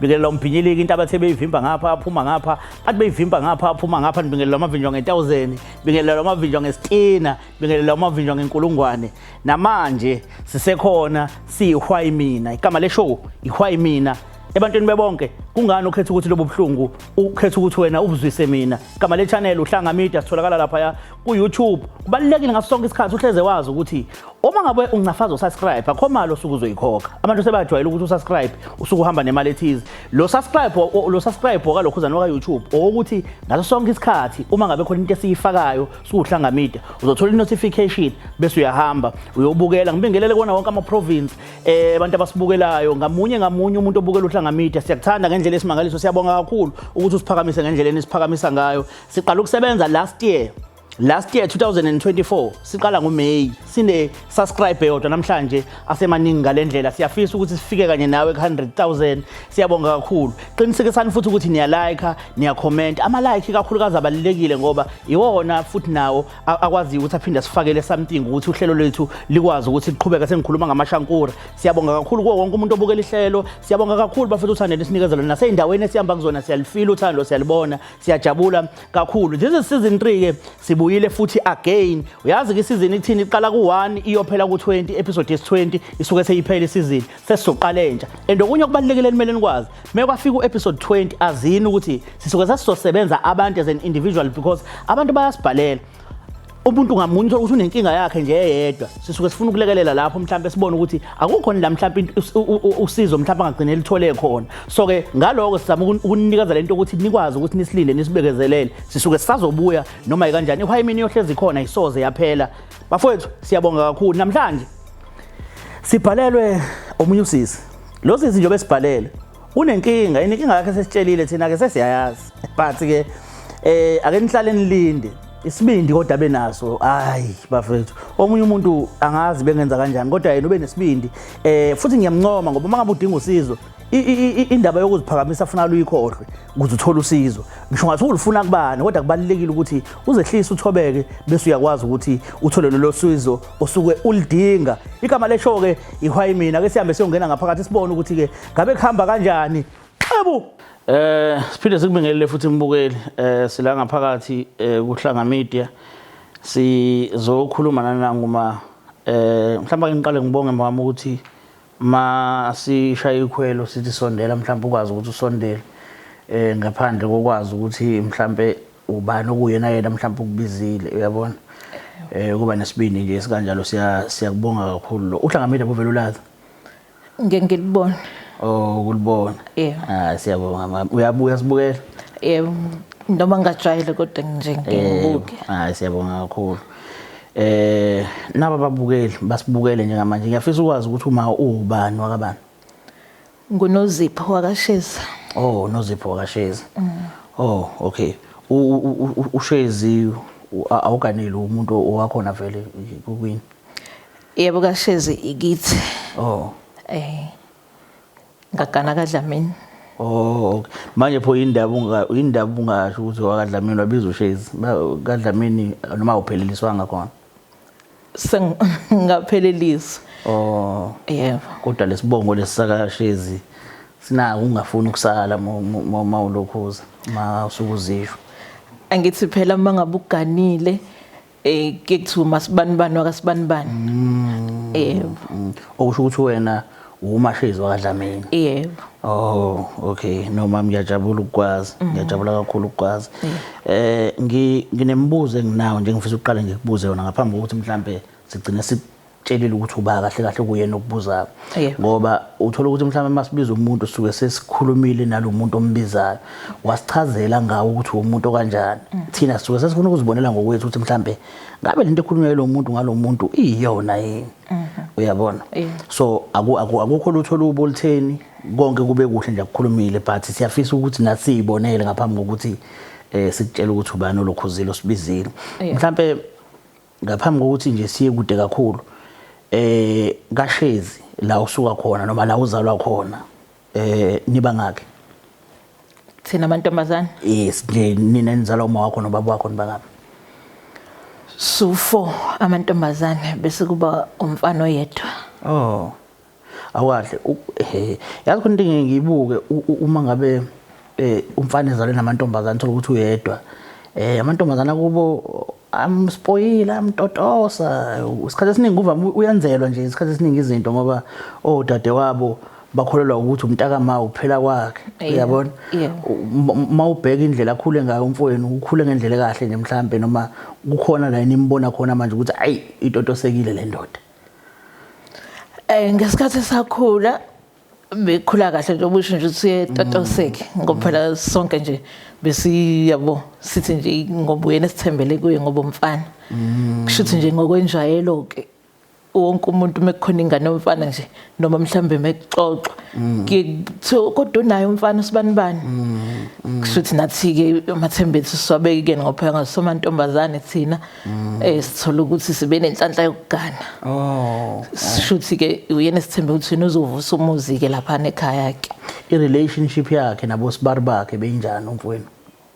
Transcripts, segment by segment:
Bingelela umbhinyiliki into abathe beyivimba ngapha aphuma ngapha athi beyivimba ngapha aphuma ngapha nibingelela amavinjwa ngetawuzeni bingelela amavinjwa ngesitina bingelela amavinjwa ngenkulungwane namanje sisekhona siyihwayi mina igama leshow ihwayi mina ebantwini bebonke kungani ukhetha ukuthi lobo buhlungu ukhetha ukuthi wena ubuzwise mina igama le-channel uhlanga media sitholakala laphaya ku-youtube kubalulekile ngaso sonke isikhathi uhleze wazi ukuthi uma ngabe uncafaza usubscribe akho mali osuke uzoyikhokha abantu sebajwayele ukuthi usubscribe usuke uhamba nemali ethize lo subscribe lo subscribe wakalokhuzane waka-youtube owokuthi ngaso sonke isikhathi uma ngabe khona into esiyifakayo sukuhlanga media uzothola i-notification bese uyahamba uyobukela ngibingelele kona wonke ama-province um abantu abasibukelayo ngamunye ngamunye umuntu obukela uhlanga media siyakuthanda ngendlela esimangaliso siyabonga kakhulu ukuthi usiphakamise ngendlela enisiphakamisa ngayo Siqala ukusebenza last year last year 2024 siqala ngoMay sine subscribe yodwa namhlanje asemaningi ngalendlela siyafisa ukuthi sifike kanye nawe ku100000 siyabonga kakhulu qinisekisani futhi ukuthi niya like niya comment ama like kakhulukazi abalekile ngoba iwona futhi nawo akwazi ukuthi aphinde sifakele something ukuthi uhlelo lwethu likwazi ukuthi liqhubeke sengikhuluma ngamashankura siyabonga kakhulu kuwo wonke umuntu obukela ihlelo siyabonga kakhulu bafethu uthandeni sinikeza lona naseyindaweni esihamba kuzona siyalifila uthando siyalibona siyajabula kakhulu this is season 3 ke sibuyile futhi again uyazi ke season ithini iqala ku1 iyophela ku20 episode yes20 isuke seyiphele isizini sesizoqala entsha and okunye okubalekile kumele nikwazi mekwafika uepisode 20 azini ukuthi sisuke sesizosebenza abantu as an individual because abantu bayasibhalela umuntu ngamunye ukuthi unenkinga yakhe nje eyedwa sisuke sifuna ukulekelela lapho mhlawumbe sibone ukuthi akukho la mhlawumbe usizo mhlawumbe angagcine elithole khona so ke ngaloko sizama ukunikeza lento ukuthi nikwazi ukuthi nisilinde nisibekezelele sisuke sisazobuya noma ikanjani ihwa imini yohlezi khona isoze yaphela bafowethu siyabonga kakhulu namhlanje sibhalelwe omunye usisi lo sisi njengoba esibhalele Unenkinga, inenkinga yakhe sesitshelile thina ke sesiyayazi. But ke eh ake nihlale nilinde. Isibindi kodwa benaso. Hayi bafethu. Omunye umuntu angazi bengenza kanjani kodwa yena ube nesibindi. Eh futhi ngiyamncoma ngoba uma ngabe udinga usizo i- i- i- indaba yokuziphakamisa funa luyikhohlwe ukuze uthole usizo ngisho ngathi ulifuna kubani kodwa kubalulekile ukuthi uzehlise uthobeke bese uyakwazi ukuthi uthole lelo sizo osuke ulidinga igama lesho-ke ihwayi mina ke sihambe siyongena ngaphakathi sibone ukuthi-ke ngabe kuhamba kanjani xebu Eh siphinde sikubingelele futhi imbukeli eh sila ngaphakathi eh, kuhlanga media sizokhuluma nanangu ma eh mhlawumbe ke ngiqale ngibonge mama ukuthi ma sishaya ikhwelo sithi sondela mhlawumbe ukwazi ukuthi usondele eh ngaphandle kokwazi ukuthi mhlawumbe ubani okuyena yena mhlawumbe ukubizile uyabona eh kuba nesibindi nje sikanjalo siya siyakubonga kakhulu lo uhlanga media buvela ulazi Ngeke ngilibone. Oh ukulibona. Yeah. Ah siyabonga mama. Uyabuya sibukela. Yebo. Noma ngajwayele kodwa nje Eh, ngibuke. Hayi siyabonga kakhulu. Eh naba babukeli basibukele njengamanje ngiyafisa ukwazi ukuthi uma uwubani wakabani. Ngunozipho wakasheza. Oh nozipho wakashezi. Oh okay. U- u- u- u- Ushezi u- a- awuganeli umuntu owakhona vele kukwini. Yebo kaShezi ikithi. Oh. Eh. Ngagana kaDlamini. Oh, okay. Manje pho indaba unga indaba ungasho ukuthi wakadlamini wabiza uShezi. Kadlamini noma upheleliswa ngakhona. Sengapheleliswa. Oh. Yebo. Kodwa lesibongo lesisaka Shezi sina ungafuni ukusala uma ulokhuza ma usukuzisho. Angithi phela uma ngabuganile eh ke kuthuma sibanibani wakasibanibani mm. yebo mm. okusho ukuthi wena umashizi wakadlamini yebo oh okay no mama ngiyajabula ukukwazi mm. ngiyajabula kakhulu ukukwazi eh nginemibuzo enginawo nje ngifisa ukuqala ngikubuze yona ngaphambi kokuthi mhlambe sigcine tshelile ukuthi uba kahle kahle kuyena okubuzayo ngoba uthola ukuthi mhlawumbe masibiza umuntu suke sesikhulumile nalomuntu ombizayo wasichazela ngawo ukuthi umuntu okanjani mm. thina suke sesifuna ukuzibonela ngokwethu ukuthi mhlawumbe ngabe lento ekhulunywa lo muntu ngalo muntu iyona yini mm-hmm. uyabona so akukho lutho lubo olutheni konke kube kuhle nje akukhulumile but siyafisa ukuthi nathi siyibonele ngaphambi kokuthi eh sikutshela ukuthi ubani olokhuzile osibizile mhlawumbe Ngaphambi kokuthi nje siye kude kakhulu eh kaShezi la usuka khona noma la uzalwa khona eh niba ngakhe thina amantombazane yes nje nina nizalwa uma wakho nobaba wakho niba ngakhe so four amantombazane bese kuba umfana oyedwa oh Awukahle ehe yazi khona into engeke ngiyibuke uma ngabe eh umfana ezalwe namantombazane thola ukuthi uyedwa eh amantombazane akubo amspoyila amtotosa isikhathi esiningi kuva uyenzelwa nje isikhathi esiningi izinto ngoba odade oh, wabo bakholelwa ukuthi umntaka ma uphela kwakhe uyabona mawubheka indlela akhule ngayo umfowenu ukhule ngendlela kahle nje mhlambe noma kukhona la inimbona khona manje ukuthi ayi itotosekile le ndoda Eh ngesikhathi sakhula bekhula kahle nje ubusho nje usiye totoseke mm. ngoba phela sonke nje besiyabo sithi nje ngoba uyena sithembele kuye ngoba umfana mm. kushuthi nje ngokwenjayelo ke wonke umuntu mekukhona ingane yomfana nje noma mhlambe mekuxoxwa mm. kuthiwa kodwa unaye umfana usibani bani mm, mm. kushuthi nathi-ke amathembethi siwabekekeni ngoba ngasomantombazane thina Mm. Eh sithola ukuthi sibe nenhlanhla yokugana. Oh. Shuthi ke uyena sithembe ukuthi uzovusa umuzi ke lapha nekhaya ke. I relationship yakhe nabo sibari bakhe benjani umfweni?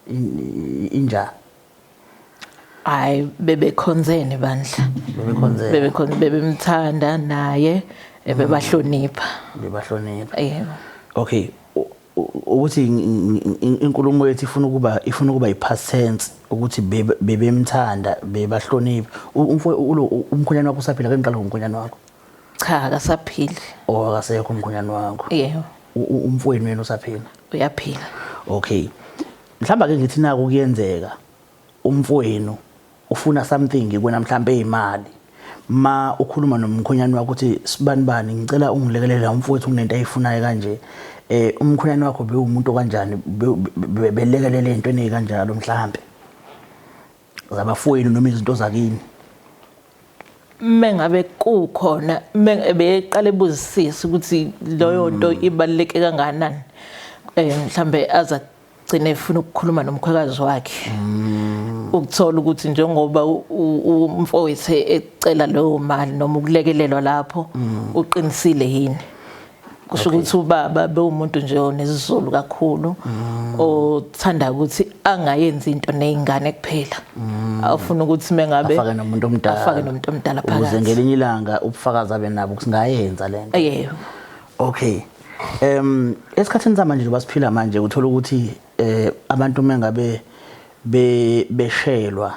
Injani? Hayi bebekhonzene bandla. Bebekhonzene. Bebekhonzene bebemthanda naye ebebahlonipha. Mm. Bebahlonipha. Yebo. Okay. ukuthi inkulumo yethu ifuna ukuba ifuna ukuba i-past tense ukuthi bebemthanda bebahlonipha umkhonyana wakho usaphila kengiqala ngomkhonyana wakho cha akasaphili or oh, akasekho umkhonyana wakho yebo umfowenu yena usaphila uyaphila okay mhlawumbe ke ngithi naku kuyenzeka umfowenu ufuna something kuwena mhlawumbe eyimali ma ukhuluma nomkhonyane wakho ukuthi sibani bani ngicela ungilekelele la umfowethu kunento ayifunayo kanje eh umkhonyane wakho bewumuntu kanjani belekelele into eneyi kanjalo mhlambe zabafowenu noma izinto zakini mengabe kukhona beqale ebuzisisa ukuthi loyo nto mm. ibaluleke kangakanani eh mhlambe aza gcine efuna ukukhuluma nomkhwekazi wakhe mm. ukuthola ukuthi njengoba umfowethu ecela leyo mali noma ukulekelelwa lapho mm. uqinisile yini kusho ukuthi ubaba bewumuntu nje onesizulu kakhulu mm. othanda ukuthi angayenzi into nezingane kuphela mm. afuna ukuthi mengabe afake nomuntu omdala afake nomuntu omdala phakathi ukuze ngelinye ilanga ubufakazi abe nabo kusingayenza lento yebo Okay. Em esikhathini samanje njengoba siphila manje uthola ukuthi eh abantu mengabe be beshelwa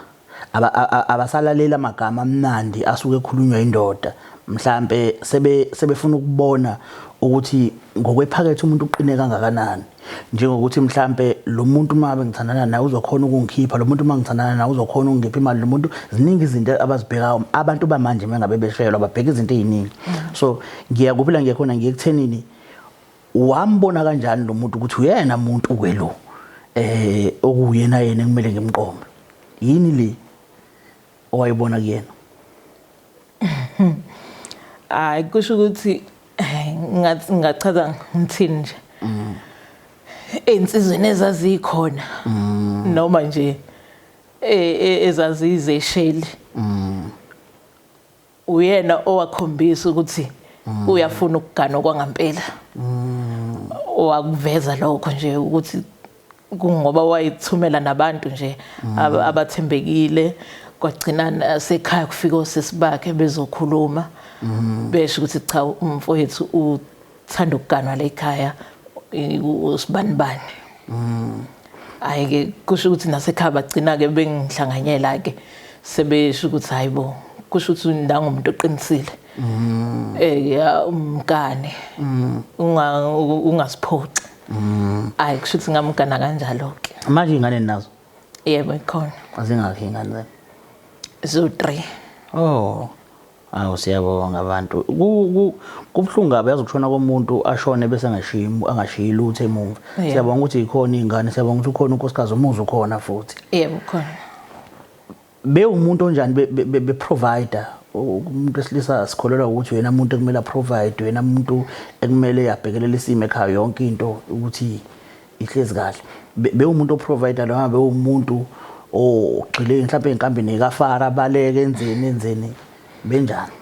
aba- a- a- abasalaleli amagama amnandi asuke ekhulunywa indoda mhlambe sebe sebefuna ukubona ukuthi ngokwephakethe umuntu uqine kangakanani njengokuthi mhlampe lo muntu uma ngabe ngithandana naye uzokhona ukungikhipha lo muntu uma ngithandana naye uzokhona ukungipha imali lo muntu ziningi izinto abazibhekayo abantu bamanje uma ngabe beshelwa babheka izinto eziningi so ngiyakuphila ngiyakhona ngiye kuthenini wambona kanjani lo muntu ukuthi uyena muntu ke lo eh okuyena yena kumele ngimqome yini le owayibona kuyena hayi kusho ukuthi ngingachaza ngithini nje mm. ey'nsizweni ezazikhona mm. noma nje e, e, ezazizesheli mm. uyena owakhombisa ukuthi uyafuna ukugana okwangampela wakuveza lokho nje ukuthi kungoba wayithumela nabantu nje mm. abathembekile kwagcina sekhaya kufika osisi bakhe bezokhuluma mm. besho ukuthi cha umfowethu uthanda ukuganwa la ekhaya usibani bani mm. hayi ke kusho ukuthi nasekhaya bagcina ke bengihlanganyela ke sebesho ukuthi hayibo kusho ukuthi ndanga umuntu oqinisile eh ya umkane unga ungasiphoxi Mm. Hayi kusho ukuthi ngamgana kanjalo ke. Manje ingane ninazo? Yebo ikhona. Azingakhi ingane zenu? Zo 3. Oh. Awu siyabonga abantu. Kubuhlungu kabi yazi ukushona komuntu ashone bese angashiyi angashiyi lutho emuva. Siyabonga ukuthi ikhona ingane, siyabonga ukuthi ukhona unkosikazi umuzi ukhona futhi. Yebo ukhona. bewumuntu onjani be, be, be, be provider umuntu wesilisa sikholelwa ukuthi wena umuntu ekumele aprovide wena umuntu ekumele yabhekelela isimo ekhaya yonke into ukuthi ihlezi kahle bewumuntu oprovide lo ngabe umuntu ogxile mhlawumbe enkambini ekafara baleke enzeni enzeni benjani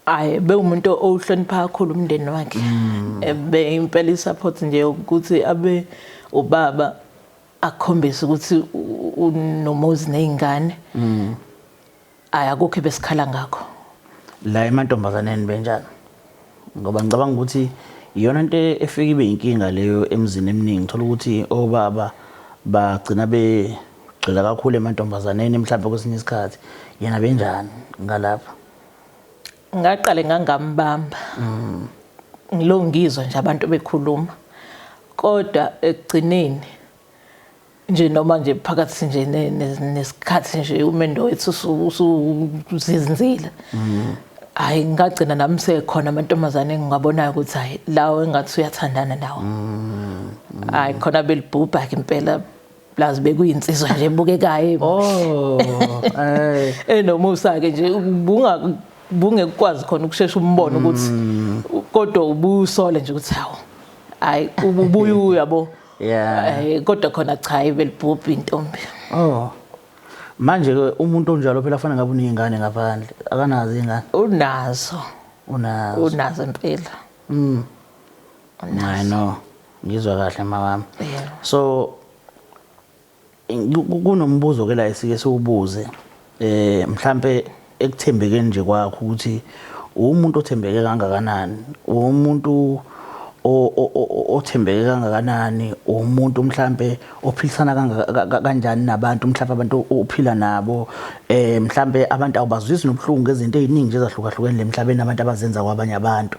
hayi bewumuntu owuhlonipha kakhulu umndeni wakhe mm. eh, be impela isupport nje ukuthi abe ubaba akhombise ukuthi unomuzi nezingane mm. ayakukho ebesikhala ngakho la emantombazaneni benjani ngoba ngicabanga ukuthi iyona into efike ibe inkinga leyo emzini eminingi thola ukuthi obaba bagcina begxila kakhulu emantombazaneni mhlawumbe kwesinye isikhathi yena benjani ngalapha ngaqale ngangambamba mm. ngilo ngizwa nje abantu bekhuluma kodwa ekugcineni nje noma nje phakathi nje nesikhathi nje umendo wethu usuzinzile mm. hayi ngagcina nami sekhona amantombazane engiwabonayo ukuthi hayi lawo engathi uyathandana nawo mm. hayi khona belibhubha ke impela plus bekuyinsizwa nje ebukekayo oh eh enomusa ke nje ubunga bungekwazi khona ukushesha umbone ukuthi mm. kodwa ubusole nje ukuthi hawo hayi ububuya uyabo yeah eh, kodwa khona cha ibelibhubhi intombi oh manje ke umuntu onjalo phela afana ngabe unezingane ngaphandle akanazo izingane unazo unazo unazo impela mm I know. Ngizwa kahle mawami. Yeah. So kunombuzo ke la esike siwubuze eh mhlambe ekuthembekeni nje kwakho ukuthi umuntu othembeke kangakanani umuntu othembeke kangakanani umuntu mhlambe ophilisana kanjani nabantu mhlawumbe abantu uphila nabo eh mhlambe abantu awubazwisi nobuhlungu ngezinto eziningi ezahlukahlukene lemhlabeni abantu abazenza kwabanye abantu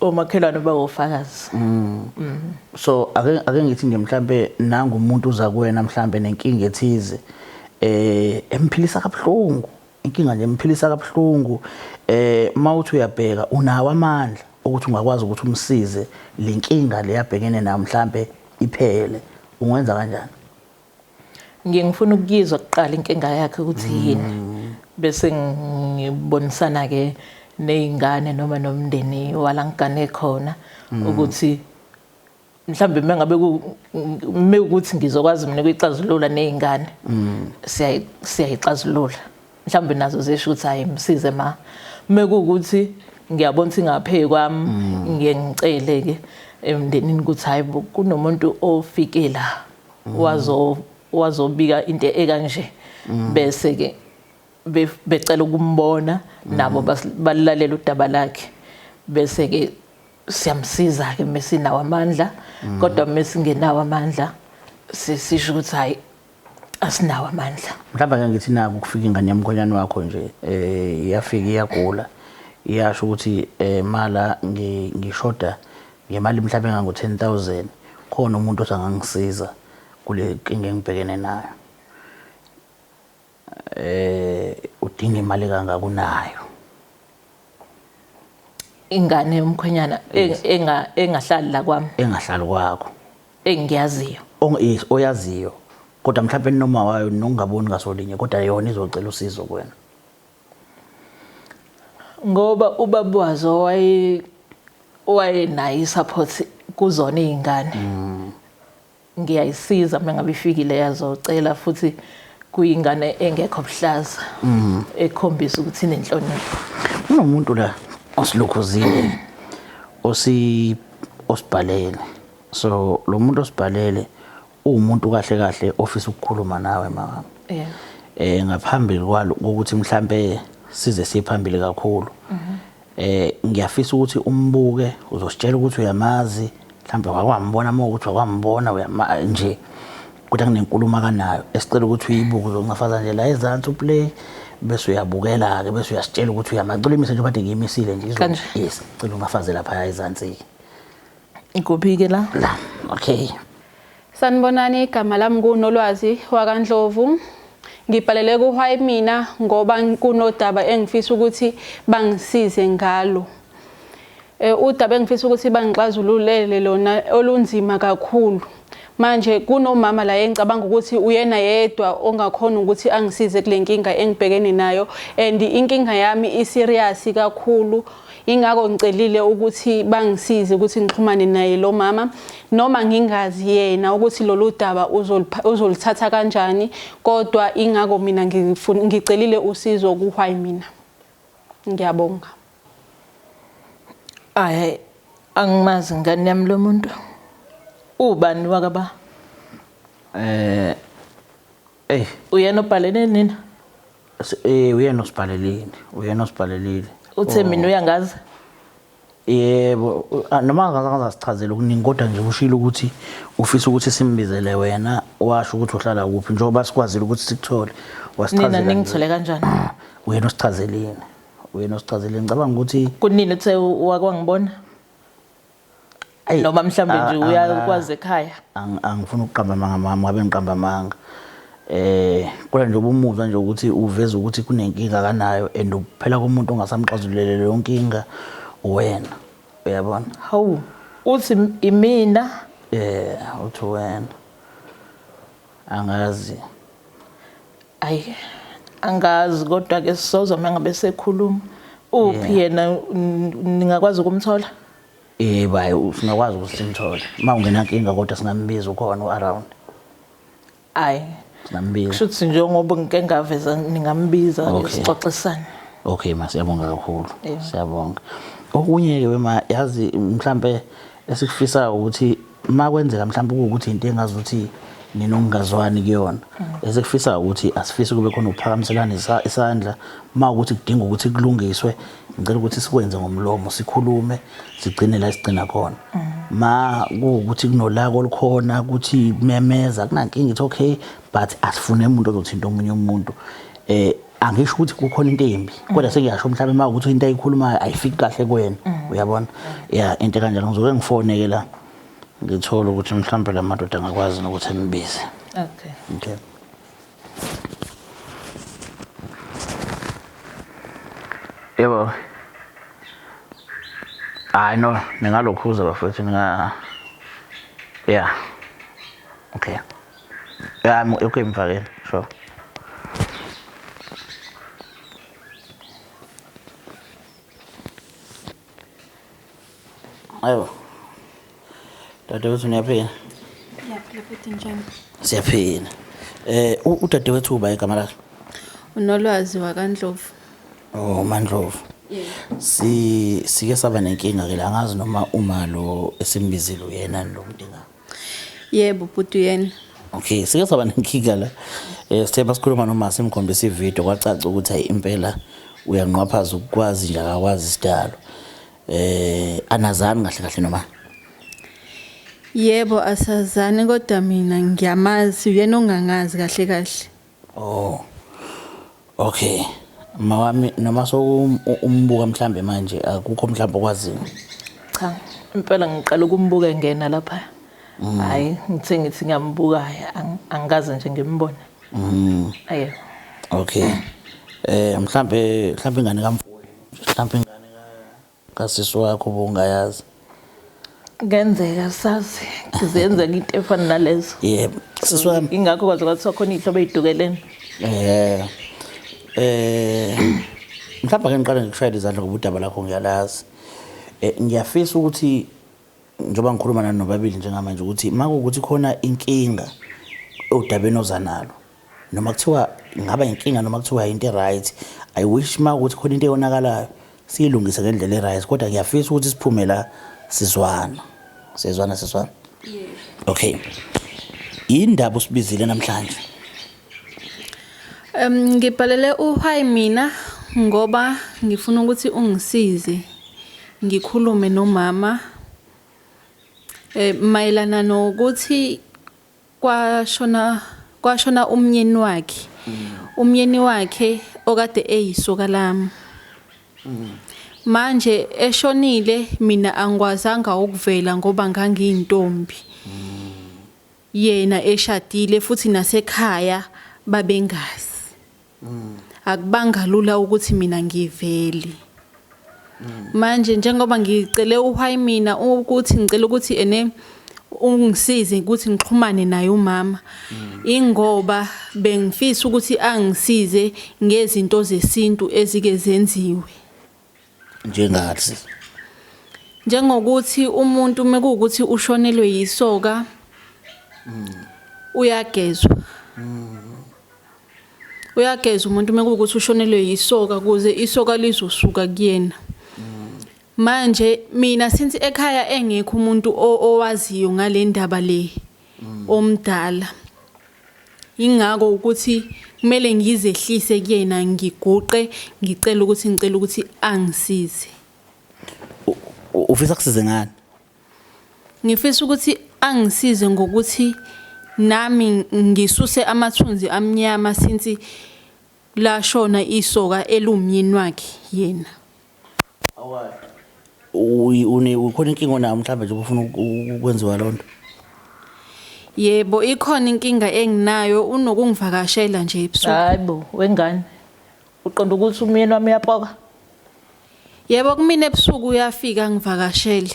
omakhelwane bawofakazi mm. mm. so ake ake ngithi nje mhlambe nangu umuntu uza kuwena mhlambe nenkinga ethize eh emphilisa kabuhlungu inkinga nje emphilisa kabuhlungu eh mawuthi uyabheka unawo amandla ukuthi ungakwazi ukuthi umsize lenkinga leyabhekene nayo mhlambe iphele ungenza kanjani Ngiye ngifuna ukuyizwa kuqala inkinga yakhe ukuthi mm. yini bese ngibonisana ke nezingane noma nomndeni wala ngigane khona mm. ukuthi mhlambe mengabe kume ukuthi ngizokwazi mina kuyixazulula nezingane mm. siyayixazulula mhlambe nazo zisho ukuthi hayi msize ma mekuwukuthi ngiyabona ukuthi ngaphe kwami ngiye ngicele ke emndenini ukuthi hayi kunomuntu ofike la wazo wazobika into ekanje bese ke be- becela ukumbona nabo bas- balulalela udaba lakhe bese ke siyamsiza ke mesinawo amandla kodwa mesingenawo amandla si- sisho ukuthi hayi asinawo amandla mhlawumbe ake ngithi naku kufika ingane yamkhonyane wakho nje um iyafika iyagula iyasho ukuthi um mala ngi- ngishoda Ngemali mhlawumbe engango 10000 khona umuntu othi angangisiza kule nkinga engibhekene nayo. Eh udinga imali kangaka unayo. Ingane yomkhwenyana enga engahlali la kwami. Engahlali kwakho. Engiyaziyo. Ongiyis oyaziyo. Kodwa mhlawumbe noma wayo nokungaboni ngasolinye kodwa yona izocela usizo kuwena. ngoba ubaba wazo waye wayenayo i-support kuzona iy'ngane mm. ngiyayisiza uma ngabe ifikile yazocela futhi kuyingane engekho buhlaza mm. ekhombisa ukuthi inenhlonipho kunomuntu la osilukhuzile osi osibhalele so lo muntu osibhalele uwumuntu kahle kahle ofisa ukukhuluma nawe mama yeah. eh ngaphambili kwalo ukuthi mhlambe size siphambili kakhulu mm -hmm. eh ngiyafisa ukuthi umbuke uzositshela ukuthi uyamazi mhlambe wakwambona uma ukuthi wakwambona uyama nje ukuthi akunenkulumo akanayo esicela ukuthi uyibuke uzoncafaza nje la ezansi uplay bese uyabukela ke bese uyasitshela ukuthi uyamacula imise nje kade ngiyimisile nje yes cela ungafazela phaya ezansi ke Ikuphi ke la? La. Okay. Sanibonani igama lami kunolwazi wakandlovu. Ngibhalele kuhwayi mina ngoba kunodaba engifisa ukuthi bangisize ngalo. Eh udaba engifisa ukuthi bangixazululele lona olunzima kakhulu. Manje kunomama la engicabanga ukuthi uyena yedwa ongakhona ukuthi angisize kulenkinga engibhekene nayo and inkinga yami iserious kakhulu Ingakho ngicelile ukuthi bangisize ukuthi ngixhumane naye lo mama noma ngingazi yena ukuthi lolu daba uzolithatha kanjani kodwa ingakho mina ngicelile usizo kuhwayi mina. Ngiyabonga. Ayi angimazi ngane yami lo muntu. Ubani wakaba? Eh Ey. Uyena obhalele nina? Eh uyena osibhalelile. Uyena osibhalelile. Uthe mina uyangazi? Yebo, ah, noma akaza sichazela okuningi kodwa nje ushilo ukuthi ufisa ukuthi simbizele wena washo ukuthi uhlala kuphi njengoba sikwazile ukuthi sikuthole. Wasichazela. Nina ningithole kanjani? Uyena osichazelile. Uyena osichazelile. Ngicabanga ukuthi kunini uthe wakwangibona? Ayi, noma mhlambe a- nje anga- uyakwazi ekhaya ang- angifuni ukuqamba amanga mama ngabe ngiqamba amanga eh kodwa nje ubumuzwa nje ukuthi uveza ukuthi kunenkinga akanayo and ukuphela komuntu ongasamxazulele leyo nkinga wena uyabona hawu uthi m- imina eh uthi wena Angazi. Ay angazi kodwa ke sizozwa mangabe sekhuluma. Uphi yeah. yena ningakwazi ukumthola? Eh bayi singakwazi ukuthi simthole. Uma ungena nkinga kodwa singambiza ukhona uaround. Ay singambiza. Kusho ukuthi njengoba ngike ngaveza ningambiza okay. sixoxisane. Okay ma siyabonga kakhulu. Yeah. Siyabonga. Okunye ke wema yazi mhlambe esikufisa ukuthi Uma kwenzeka mhlawumbe kuwukuthi into engazi ukuthi nina ongingazwani kuyona esekufisa ukuthi asifisi kube khona ukuphakamiselana isandla uma ukuthi kudinga ukuthi kulungiswe ngicela ukuthi sikwenze ngomlomo sikhulume sigcine la sigcina khona ma kuwukuthi kunolaka olukhona ukuthi kumemeza kunankinga ithi okay but asifune umuntu ozothinta omunye umuntu eh angisho ukuthi kukhona into embi kodwa sengiyasho mhlawumbe uma ukuthi into ayikhulumayo ayifiki kahle kuwena uyabona ya into kanjalo ngizoke ngifoneke la ngithole ukuthi mhlawumbe la madoda angakwazi nokuthi anibize okay okay yebo hayi no ningalokhuza bafethu ninga yeah okay Ya mu- okay mfakeni. Sure. Ayo. Dadewethu niyaphila. Ngiyaphila futhi njani? Siyaphila. Eh u- udadewethu uba igama lakhe. Unolwazi wakaNdlovu. Oh Mandlovu. Si sike saba nenkinga ke la ngazi noma uma lo esimbizile uyena lo mdinga. Yebo bhuti uyena. Okay, sike saba nenkinga la. Eh sithe masikhuluma noma simkhombisa ivideo kwacaca ukuthi ayi impela uyanqwaphaza ukwazi nje akakwazi isidalo. Eh anazani kahle kahle noma? Yebo asazani kodwa mina ngiyamazi uyena ongangazi kahle kahle. Oh. Okay. Mawami noma sokumbuka mhlambe manje akukho mhlambe okwaziyo. Cha, impela ngiqala ukumbuka engena lapha. Mm. Hayi, ngithe ngithi ngiyambuka angikaze nje ngimbone. Mm. Ayo. Okay. Eh mhlambe mhlambe ingane kamfowethu. Mhlambe ingane Kasisi wakho ubungayazi. Kuyenzeka sazi ziyenzeka into efana nalezo. Yebo. Sisi wami. Ingakho kwaze kwathiwa khona iy'hlobo ey'dukeleni. Eh. Eh. Mhlawumbe ake ngiqale ngikushayele izandla ngoba udaba lakho ngiyalazi. Eh ngiyafisa ukuthi njengoba ngikhuluma nani nobabili njengamanje ukuthi makuwukuthi khona inkinga odabeni ozanalo noma kuthiwa ngaba inkinga noma kuthiwa yinto e-right i wish uma ukuthi khona into eyonakalayo siyilungise ngendlela e-right kodwa ngiyafisa ukuthi siphume la sizwana siyezwana siswana okay indaba usibizile namhlanje um ngibhalele uhwayi mina ngoba ngifuna ukuthi ungisize ngikhulume nomama um mayelana nokuthi Kwashona kwashona umnyeni wakhe. Umnyeni wakhe okade eyisoka lami. Manje eshonile mina angikwazanga ukuvela ngoba ngangiyintombi. Yena eshadile futhi nasekhaya babengazi. mm. akubanga lula ukuthi mina ngiveli mm. manje njengoba ngicele uhwayi mina ukuthi ngicela ukuthi ene ungisize ukuthi ngixhumane naye umama mm. ingoba bengifisa ukuthi angisize ngezinto zesintu ezike zenziwe njengathi njengokuthi umuntu uma kuwukuthi ushonelwe yisoka uyagezwa uyagezwa umuntu uma kuwukuthi ushonelwe yisoka kuze isoka lizosuka kuyena manje mina since ekhaya engekho umuntu owaziyo ngale ndaba le omdala ingako ukuthi kumele ngizehlise kuyena ngiguqe ngicela ukuthi ngicela ukuthi angisize ufisa kusize ngani ngifisa ukuthi angisize ngokuthi nami ngisuse amathunzi amnyama since Lashona isoka elumyini wakhe yena. Uyi- uni- Ukhona inkinga onayo mhlawumbe nje ubufuna uku- ukwenziwa loo nto? Yebo ikhona inkinga enginayo unokungivakashela nje ebusuku. Hayi bo, wengane. Uqonda ukuthi umyeni wami uyapoka? Yebo kumina ebusuku uyafika ngivakashele.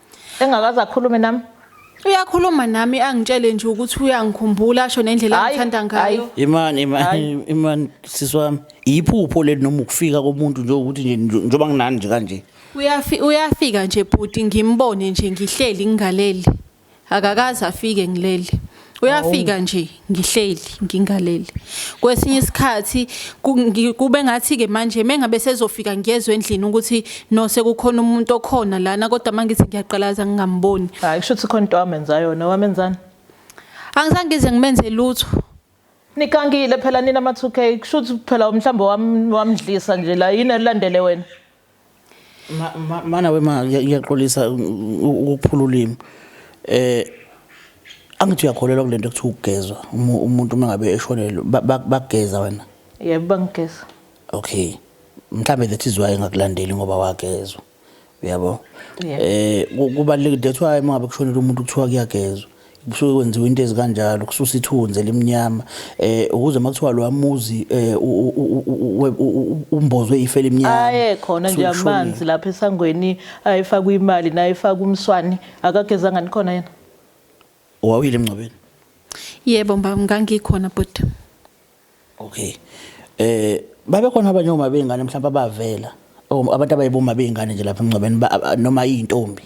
engakaze akhulume nami uyakhuluma nami angitshele nje ukuthi uyangikhumbula asho nendlela Hayi, angithanda hayi. ngayo imani imani imani sisi wami yiphupho leli noma ukufika komuntu nje ukuthi nje nje- njengoba nginani nje kanje Uyafi- uyafika nje bhuti ngimbone nje ngihleli ngingalele akakaze afike ngilele uyafika nje ngihleli ngingalele kwesinye isikhathi kube ngathi ke manje mengabe sezofika ngiyezwe endlini ukuthi no sekukhona umuntu okhona lana kodwa mangithi ngiyaqalaza ngingamboni hayi kusho ukuthi khona into amenza yona wamenzani angizange ngize ngimenze lutho nikangile phela nina ma 2k kusho ukuthi phela mhlawumbe wamdlisa nje la yini elilandele wena mana wema ngiyaxolisa ukuphula ulimi eh angithi uyakholelwa kulento ekuthiwa ukugezwa umuntu uma ngabe eshonelwe bakugeza wena yebo bangigeza okay mhlambe that is why ngakulandeli ngoba wagezwa uyabo eh kubalulekile that why uma ngabe kushonela umuntu kuthiwa kuyagezwa kusuke kwenziwa into ezikanjalo ukususa ithunzi elimnyama eh ukuze makuthiwa lo amuzi eh umbozwe ife elimnyama aye khona nje amanzi lapha esangweni ayifaka imali nayifaka umswani akagezanga nikhona yena wawile emngcwabeni yebo mba ngangikhona bhuti Okay. Eh babe khona abanye uma beyingane mhlawumbe abavela oh, abantu abayibuma beyingane nje lapha emngcwabeni noma izintombi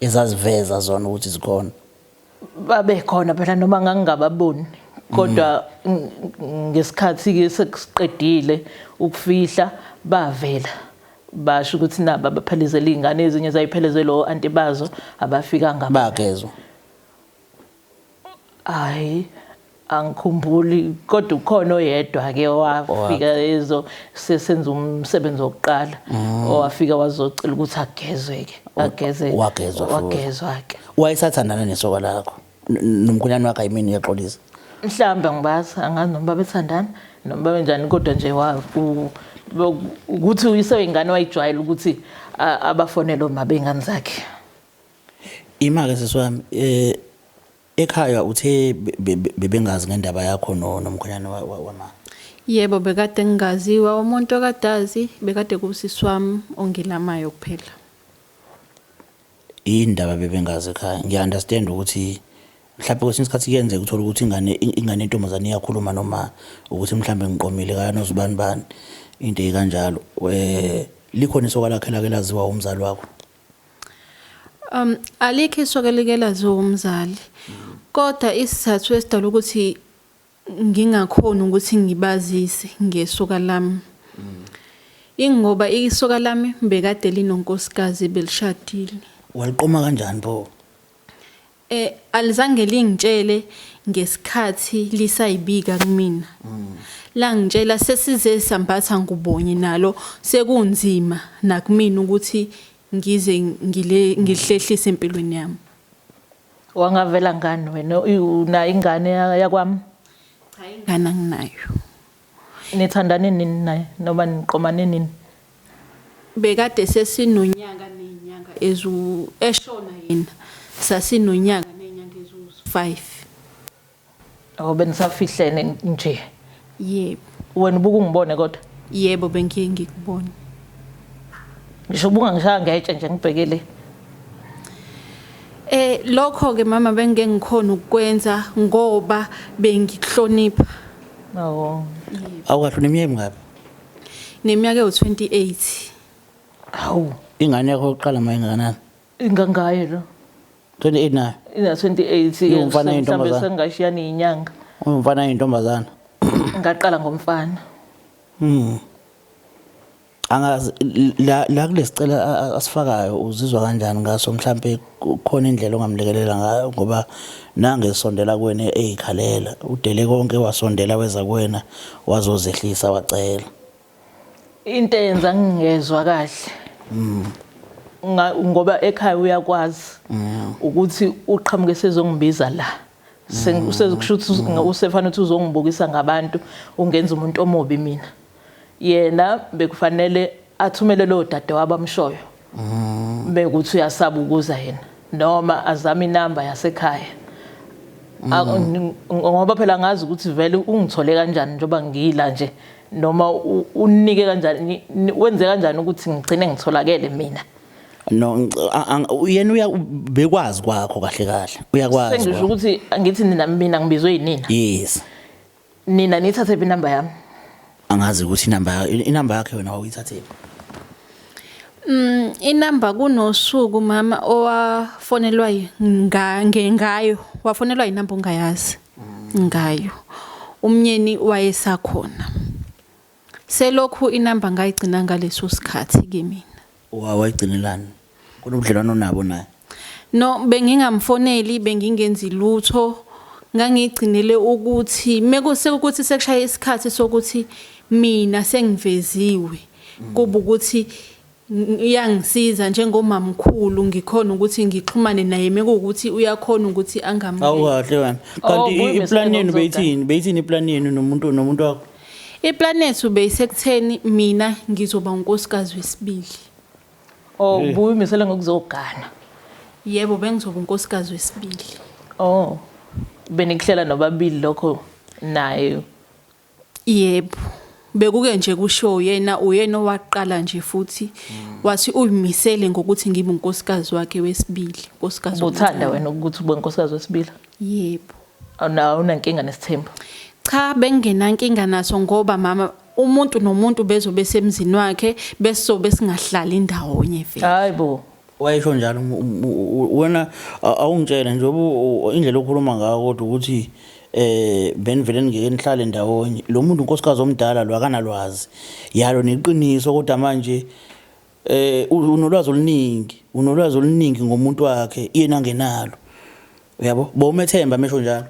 ezaziveza zona ukuthi zikhona. Babe khona phela noma ngangingababoni kodwa ngesikhathi ke sekuqedile ukufihla bavela basho ukuthi naba baphelezela izingane ezinye zayiphelezelwa oanti bazo abafika ngabo. Bagezwa. Hayi angikhumbuli kodwa ukhona oyedwa ke wafika ezo sesenza umsebenzi wokuqala mm. owafika wazocela ukuthi agezwe ke ageze wagezwa wagezwa ke wayesathandana nesoka lakho nomkhulane wakhe yimini yaxolisa mhlawumbe ngibazi angazi noma babethandana noma babenjani kodwa nje ukuthi uyise wengane wayijwayela ukuthi abafonele omabengane zakhe Ima ke sisi wami eh ekhaya uthe bebengazi ngendaba yakho no nomkhonyane wama Yebo bekade ngingaziwa umuntu okadazi bekade kusisi wami ongilamayo kuphela Indaba bebengazi ekhaya ngiya understand ukuthi mhlawumbe kwesinye isikhathi kuyenzeka uthola ukuthi ingane ingane intombazane iyakhuluma noma ukuthi mhlawumbe ngiqomile kaya nozibani bani into ekanjalo eh likhona isoka lakhe lake laziwa umzali wakho Um alikho isoka elikelaziwa umzali. Kodwa isizathu esidala ukuthi ngingakhona ukuthi ngibazise ngesoka lami. Ingoba isoka lami bekade linonkosikazi belishadile. Waliqoma kanjani pho? E, alizange lingitshele ngesikhathi lisayibika kumina. Mm. Langitshela sesize sambatha ngubonye nalo sekunzima nakumina ukuthi ngize ngile ngihlehlise empilweni yami. Wangavela ngani wena unayo ingane yakwami? Cha ingane anginayo. Nithandane nini naye noma niqomane nini? Bekade sesinonyaka nezinyanga ezu eshona yena sasinonyaka nezinyanga ezu-5. Oh benisafihlene nje. Yebo. Wena ubuke ungibone kodwa? Yebo bengiye ngikubone. Ngisho ubuka ngishaya ngetshe nje ngibheke le. Eh lokho ke mama bengeke ngikhona ukukwenza ngoba bengihlonipha. Awu. Awukahle uneminyaka emingaki? Neminyaka ewu-28. Hawu, ingane yakho yokuqala mayengakanani? Ingangaye lo. 28 nayo. Ina 28 Iwumfana yini mhlawumbe ntombazane? sengashiyana iyinyanga. Ungumfana yini ntombazana? Ngaqala ngomfana. Hmm. angazi la la kulesicela asifakayo uzizwa kanjani ngaso mhlambe khona indlela ongamlekelela ngayo ngoba nange esondela kuwena eyikhalela udele konke wasondela weza kuwena wazozehlisa wacela into eyenza ngingezwa kahle mm. ngoba ekhaya uyakwazi mm. ukuthi uqhamuke sezongibiza la mm. usekusho ukuthi usefanele ukuthi uzongibukisa ngabantu ungenza umuntu omubi mina yena bekufanele athumele lowo dadewabo amshoyo mm. bekuthi uyasaba ukuza yena noma azame inamba yasekhaya mm. ngoba phela ngazi ukuthi vele ungithole kanjani njengoba ngila nje noma unike kanjani wenze kanjani ukuthi ngigcine ngitholakele mina no uyena uya bekwazi kwakho kahle kahle uyakwazi sengisho ukuthi ngithi nina mina ngibizwe yinina yes Nina nithathe phi number yami? Angazi ukuthi inamba inamba yakhe wena wawuyithathephi. Mm inamba kunosuku mama owafonelwa nga ngengayo wafonelwa inamba ongayazi ngayo. Umnyeni wayesakhona. Selokhu inamba ngayigcina ngaleso sikhathi kimina. Wa wayigcinelani? Kunobudlelwano onabo naye? No bengingamfoneli bengingenzi lutho ngangigcinele ukuthi mekusekukuthi sekushaya isikhathi sokuthi mina sengiveziwe kuba ukuthi uyangisiza njengomamkhulu ngikhona ukuthi ngixhumane naye mekuwukuthi uyakhona ukuthi angamukele awukahle wena oh, kanti iplan yenu beyithini beyithini iplan yenu nomuntu nomuntu wakho iplan yethu beyisekutheni mina ngizoba unkosikazi wesibili oh eh. buyimisele ngokuzogana yebo bengizoba unkosikazi wesibili oh benikuhlela nobabili lokho naye Yebo. Bekuke nje kusho yena uyena owaqala nje futhi mm. wathi uyimisele ngokuthi ngibe unkosikazi wakhe wesibili nkosikazi uthanda wena ukuthi ube unkosikazi wesibili yebo awunawo unankinga nesithembu cha bengenankinga naso ngoba mama umuntu nomuntu bezobe semzini wakhe besobe singahlali ndawonye vele hayibo wayesho njalo wena awungitshele njengoba indlela okhuluma ngayo kodwa ukuthi eh benivele ningeke nihlale ndawonye lo muntu unkosikazi omdala lo akanalwazi yalo neqiniso kodwa manje eh unolwazi oluningi unolwazi oluningi ngomuntu wakhe yena ngenalo uyabo bomethemba mesho njalo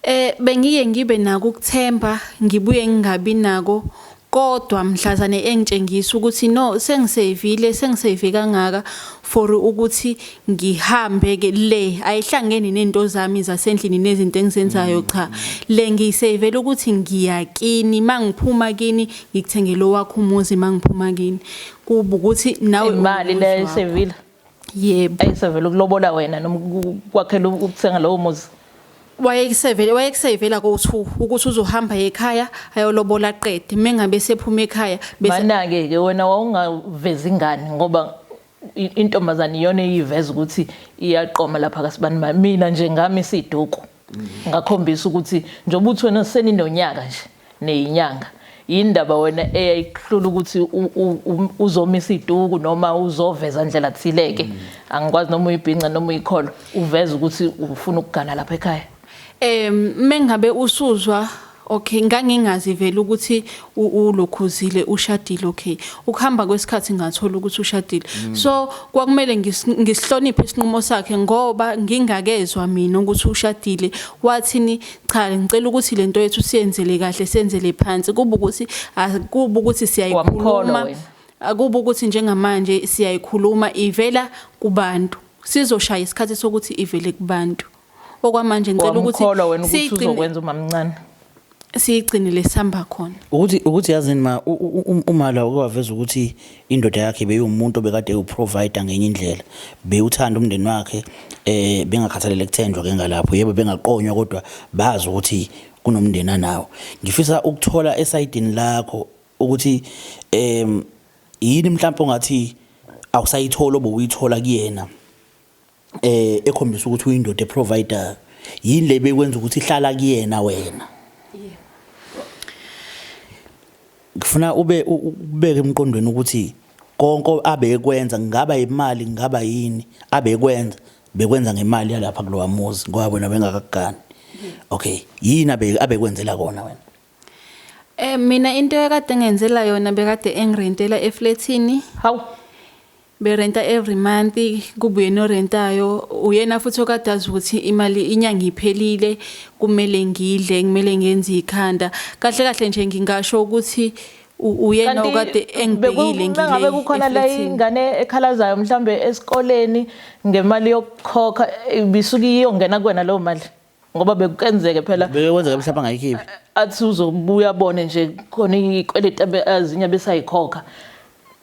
Eh bengiye ngibe nako ukuthemba ngibuye ngingabi nako kodwa mhlazane engitshengisa ukuthi no sengisevile sengiseve kangaka for ukuthi ngihambe ke le ayihlangene nezinto zami zasendlini nezinto engizenzayo mm. cha le ngisevele ukuthi ngiyakini mangiphuma kini ngikuthengele owakho umuzi mangiphuma kini kuba ukuthi nawe imali le sevile yebo ayisevele ukulobola wena noma uku- kwakhela ukuthenga lowo muzi wayekisevele wayekisevela kowu-two ukuthi uzohamba ekhaya ayolobola qede mengabe sephuma ekhaya bese banake ke wena wawungavezi ingane ngoba i- intombazane iyona eyiveza ukuthi iyaqoma lapha kasibani mina nje ngami siduku ngakhombisa ukuthi njengoba uthi wena seninonyaka nje neyinyanga yindaba wena eyayikuhlula ukuthi uzomisa ituku noma uzoveza ndlela thileke mm. angikwazi noma uyibhinca noma uyikholo uveza ukuthi ufuna ukugana lapha ekhaya em mengabe usuzwa okay ngangingazi vele ukuthi ulokhuzile ushadile okay ukuhamba kwesikhathi ngathola ukuthi ushadile mm. so kwakumele ngisihloniphe isinqumo sakhe ngoba ngingakezwa mina ukuthi ushadile wathini cha ngicela ukuthi le nto yethu siyenzele kahle siyenzele phansi kuba ukuthi kuba ukuthi siyayikhuluma akuba ukuthi njengamanje siyayikhuluma ivela kubantu sizoshaya isikhathi sokuthi ivele kubantu okwamanje ngicela ukuthi wamkholwa wena ukuthi uzokwenza umamncane siyigcinile sihamba khona ukuthi ukuthi yazini ma umala ukwaveza ukuthi Indoda yakhe beyiwumuntu obekade ewuprovayida ngenye indlela. Bewuthanda umndeni wakhe eh bengakhathalele kuthenjwa ke ngalapho. Yebo bengaqonywa kodwa bazi ukuthi kunomndeni anawo. Ngifisa ukuthola esayidini lakho ukuthi em yini mhlawumbe ongathi awusayitholi obowuyithola kuyena. eh ekhombisa ukuthi uyindoda eprovider yini le bekwenza ukuthi ihlala kuyena wena ngifuna ube ubeke emqondweni ukuthi konke abekwenza ngaba imali ngaba yini abekwenza bekwenza ngemali yalapha kulowa muzi ngoba wena bengakakugani okay yini abekwenzela kona wena Eh mina into ekade ngenzela yona bekade engirentela eflatini. Hawu berenta every month kubuye norentayo uyena futhi okade azi ukuthi imali inyanga iphelile kumele ngidle kumele ngenze ikhanda kahle kahle nje ngingasho ukuthi uyena okade engibhekile ngibe kukhona la ingane ekhalazayo mhlambe esikoleni ngemali yokukhokha ibisuke iyongena kuwena leyo mali ngoba bekukenzeke phela beke kwenzeka mhlawumbe angayikhiphi athi uzobuya abone nje khona ikweleti abe- azinye besayikhokha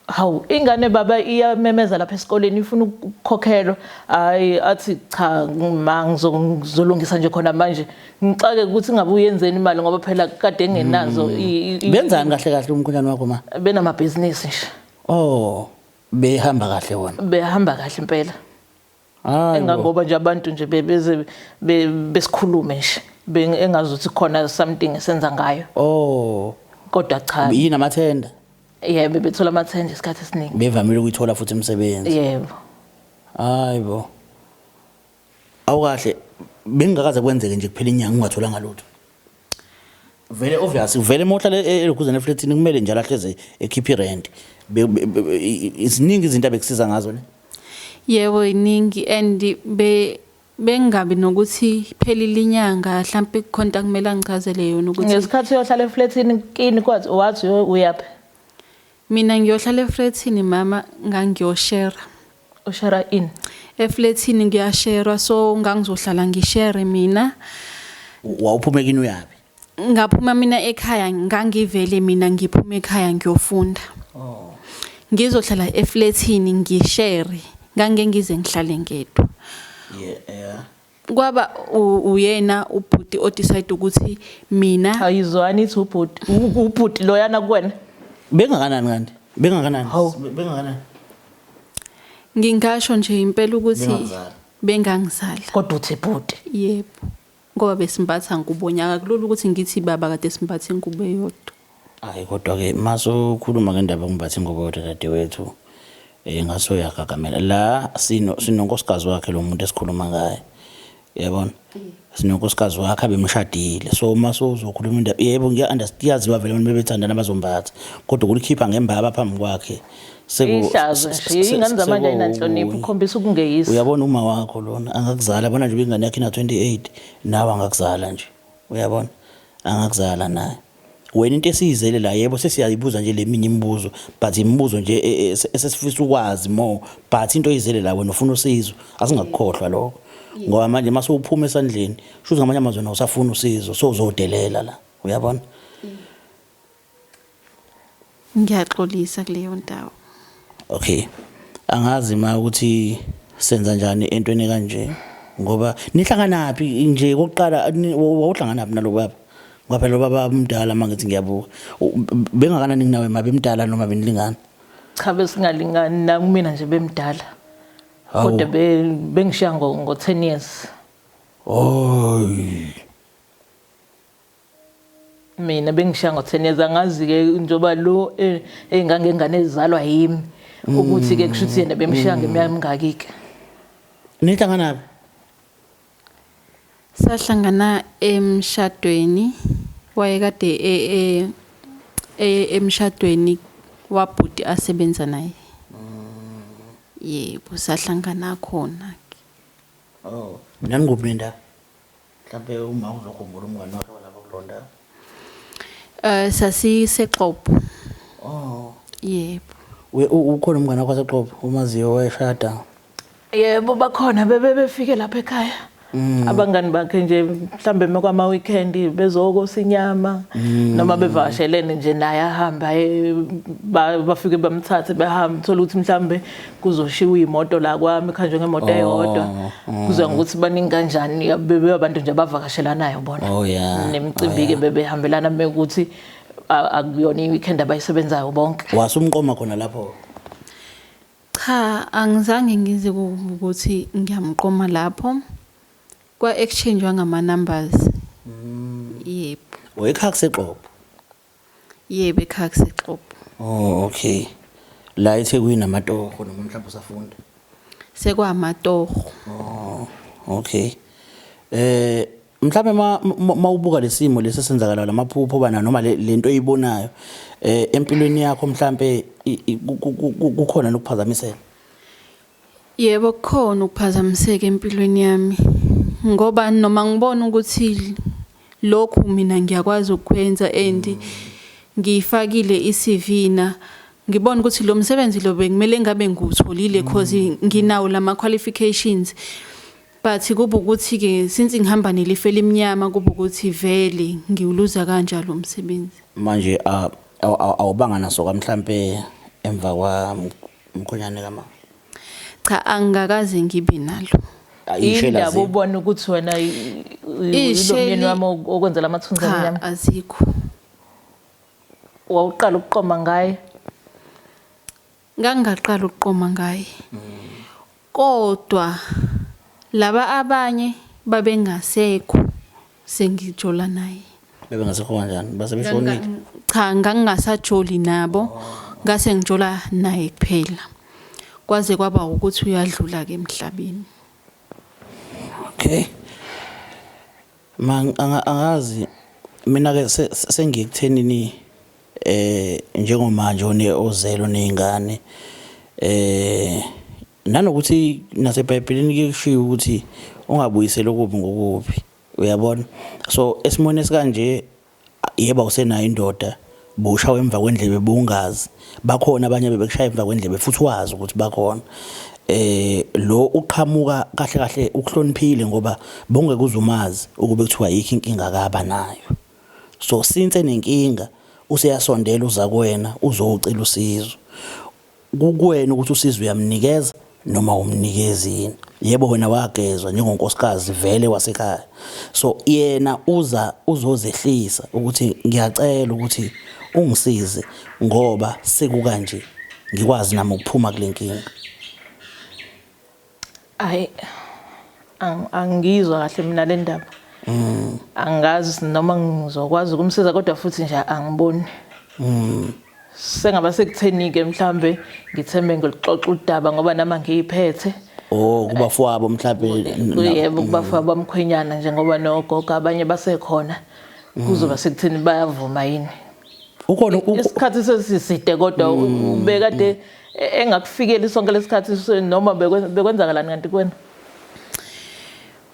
hawu ingane baba iyamemeza lapha esikoleni ifuna ukukhokhelwa hhayi athi cha ma ngizo- ngizolungisa nje khona manje ngixake ukuthi ngabe uyenzeni imali ngoba phela kade engenazo i- i- i- benzani kahle kahle umkhonyane wakho ma benamabhizinisi nje oh behamba kahle wona behamba kahle impela Hayi. Engangoba nje abantu nje bebeze besikhulume nje. Bengazi ukuthi khona something esenza ngayo. Oh. Kodwa cha. Yini amathenda? Yeah, bebethola amathenda isikhathi esiningi. Bevamile ukuyithola futhi imisebenzi. Yebo. Hayi bo. Awukahle bengingakaze kwenzeke nje kuphela inyanga ungatholanga lutho. vele obvious vele uma uhlala e-, elokhuzana efletini kumele njalo ahleze ekhiphe irent ziningi izinto abekusiza ngazo ne yebo iningi and be bengabi nokuthi phelile inyanga mhlampe kukhonta kumele angichazele yona ukuthi ngesikhathi uyohlala efletini kini kwathi wathi uyaphi Mina ngiyohlala eflethini mama ngangiyoshere. Ushera in? Eflethini kuyasherwa so ngangizohlala ngishere mina. Wawuphuma kini uyabi? Ngaphuma mina ekhaya ngangivele mina ngiphuma ekhaya ngiyofunda. Oh. Ngizohlala eflethini ngishere ngangengize ngihlale ngedwa. Yeah, yeah. kwaba uyena ubhuti o decide ukuthi mina ayizwani ithi ubhuti ubhuti loyana kuwena bengakanani kanti bengakanani bengakanani ngingasho nje impela ukuthi bengangizala kodwa uthi bhuti yebo ngoba besimbatha ngubo nyaka kulula ukuthi ngithi baba kade simbatha ingubo eyodwa Ayi kodwa ke masokhuluma ngendaba kumbatha ingubo kodwa dadewethu eh ngase uyagagamela la sino sinonkosikazi wakhe lo muntu esikhuluma ngaye yabona sinonkosikazi wakhe abemshadile so uma sozokhuluma indaba yebo ngiya understand yaziwa vele abantu bebethandana bazombatha kodwa ukulikhipha ngembaba phambi kwakhe Ihlazo nje ingane zamanje ayinanhlonipho ukhombisa ukungeyisi. Uyabona uma wakho lona angakuzala bona nje ingane yakhe ina 28 nawe angakuzala nje. Uyabona? Angakuzala naye. Wena into esiyizele la yebo sesiyayibuza nje leminye imibuzo but imibuzo nje e, e, esesifisa ukwazi more but into oyizele la wena ufuna usizo asingakukhohlwa lokho ngoba manje mase uphuma esandleni shuthi ngamanye amazwi na usafuna usizo so uzodelela la uyabona Ngiyaxolisa kuleyo ndawo. Okay. Angazi ma ukuthi senza njani entweni kanje ngoba nihlanganaphi nje kokuqala wawuhlanganaphi nalo baba ngoba phela ubaba umdala manje ngithi ngiyabuka bengakanani kunawe mabe mdala noma benilingana cha besingalingani na kumina nje bemdala kodwa bengishiya ngo 10 years oh mina bengishaya ngo-10 years angazi-ke njengoba lo eh, engangengane ezalwa yimi mm. ukuthi-ke kusho ukuthi yena bemshiya mm. ngeminyaka emingaki-ke nihlanganaphi sahlangana emshadweni wayekade e, e, e, emshadweni wabhuti asebenza naye mm. yebo sahlangana khona oh nangikuphi nendawo mhlampe uma uzokhumbula umngane wakhe walapha kulonda eh sasisexopo oh yebo we ukhona umngane wakho wasexopo umaziyo wayeshada yebo bakhona bebe befike lapha ekhaya Mm. abangani bakhe nje mhlambe mekwama weekend bezokosa inyama mm. noma bevakashelene nje naye ahamba bafike bamthathe behamba thola ukuthi mhlambe kuzoshiwa iy'moto la kwami kuhanjwe ngemoto oh, eyodwa oh. kuzwa ngokuthi baningi kanjani bebe abantu nje abavakashelanayo bona oh, nemicimbi-ke bebehambelana mekuthi akuyona i-weekend abayisebenzayo bonke wase umqoma khona lapho cha angizange ngize ukuthi ngiyamqoma lapho kwa-exchange wangama-numbers mm. yebo wayekhakusexobo Yebo ekhaya kusexopo. Oh okay. La eThekwini amatoho noma mhlawumbe usafunda. Sekwamatoho. Oh okay. Eh mhlawumbe ma mawubuka lesimo lesi senzakala lamaphupho bana noma lento oyibonayo eh empilweni yakho mhlawumbe kukhona nokuphazamiseka. Yebo kukhona ukuphazamiseka empilweni yami ngoba noma ngibona ukuthi lokhu mina ngiyakwazi ukukwenza and ngiyifakile iCV na ngibona ukuthi lo msebenzi lo bekumele ngabe ngiwutholile because nginawo lama qualifications but kuba ukuthi ke since ngihamba nelife elimnyama kuba ukuthi vele ngiwuluza kanjalo umsebenzi manje awubanga naso kamhlambe emva kwami Umkhonyane ka mama. Cha angikaze ngibe nalo. Indaba ubona ukuthi wena ilomyeni wami okwenzela amathunzi amnyama. Azikho. Wawuqala ukuqoma ngaye. Ngangingaqala ukuqoma ngaye. Mm. Kodwa laba abanye babengasekho sengijola naye. Bebengasekho kanjani? Base beshonile. Nganga- Cha ngangingasajoli nabo ngase ngijola naye kuphela. Kwaze kwaba ukuthi uyadlula ke emhlabeni. Okay. Ma angazi mina ke sengikuthenini eh njengomanje one ozelo nezingane eh nanokuthi naseBhayibhelini kushiwo ukuthi ungabuyiseli okubi ngokubi uyabona so esimweni esikanje Yebo awusenayo indoda bushawa emva kwendlebe bungazi bakhona abanye bebekushaya emva kwendlebe futhi wazi ukuthi bakhona eh lo uqhamuka kahle kahle ukuhloniphile ngoba bonke kuzumazi ukube kuthiwa yikho inkinga akaba nayo so since enenkinga useyasondela uza kuwena uzocela usizo Kukuwena ukuthi usizi uyamnikeza noma awumnikezi yini. Yebo wena wagezwa njengonkosikazi vele wasekhaya. So yena uza uzozehlisa ukuthi ngiyacela ukuthi ungisize ngoba sekukanje ngikwazi nami ukuphuma kule nkinga. Hayi angizwa kahle mina le ndaba. Mm. Angazi noma ngizokwazi ukumsiza kodwa futhi nje angiboni. Mm. Sengaba sekutheni ke mhlambe ngithembe ngilixoxa udaba ngoba nama ngiyiphethe. Oh kuba fwabo mhlambe. Yebo kuba mm. fwabo amkhwenyana njengoba nogogo abanye basekhona. Mm. Kuzoba sekutheni bayavuma yini? ukhona isikhathi sesiside kodwa hmm. ubekade e, engakufikeli sonke lesikhathi noma bekwenzakalani kanti kwena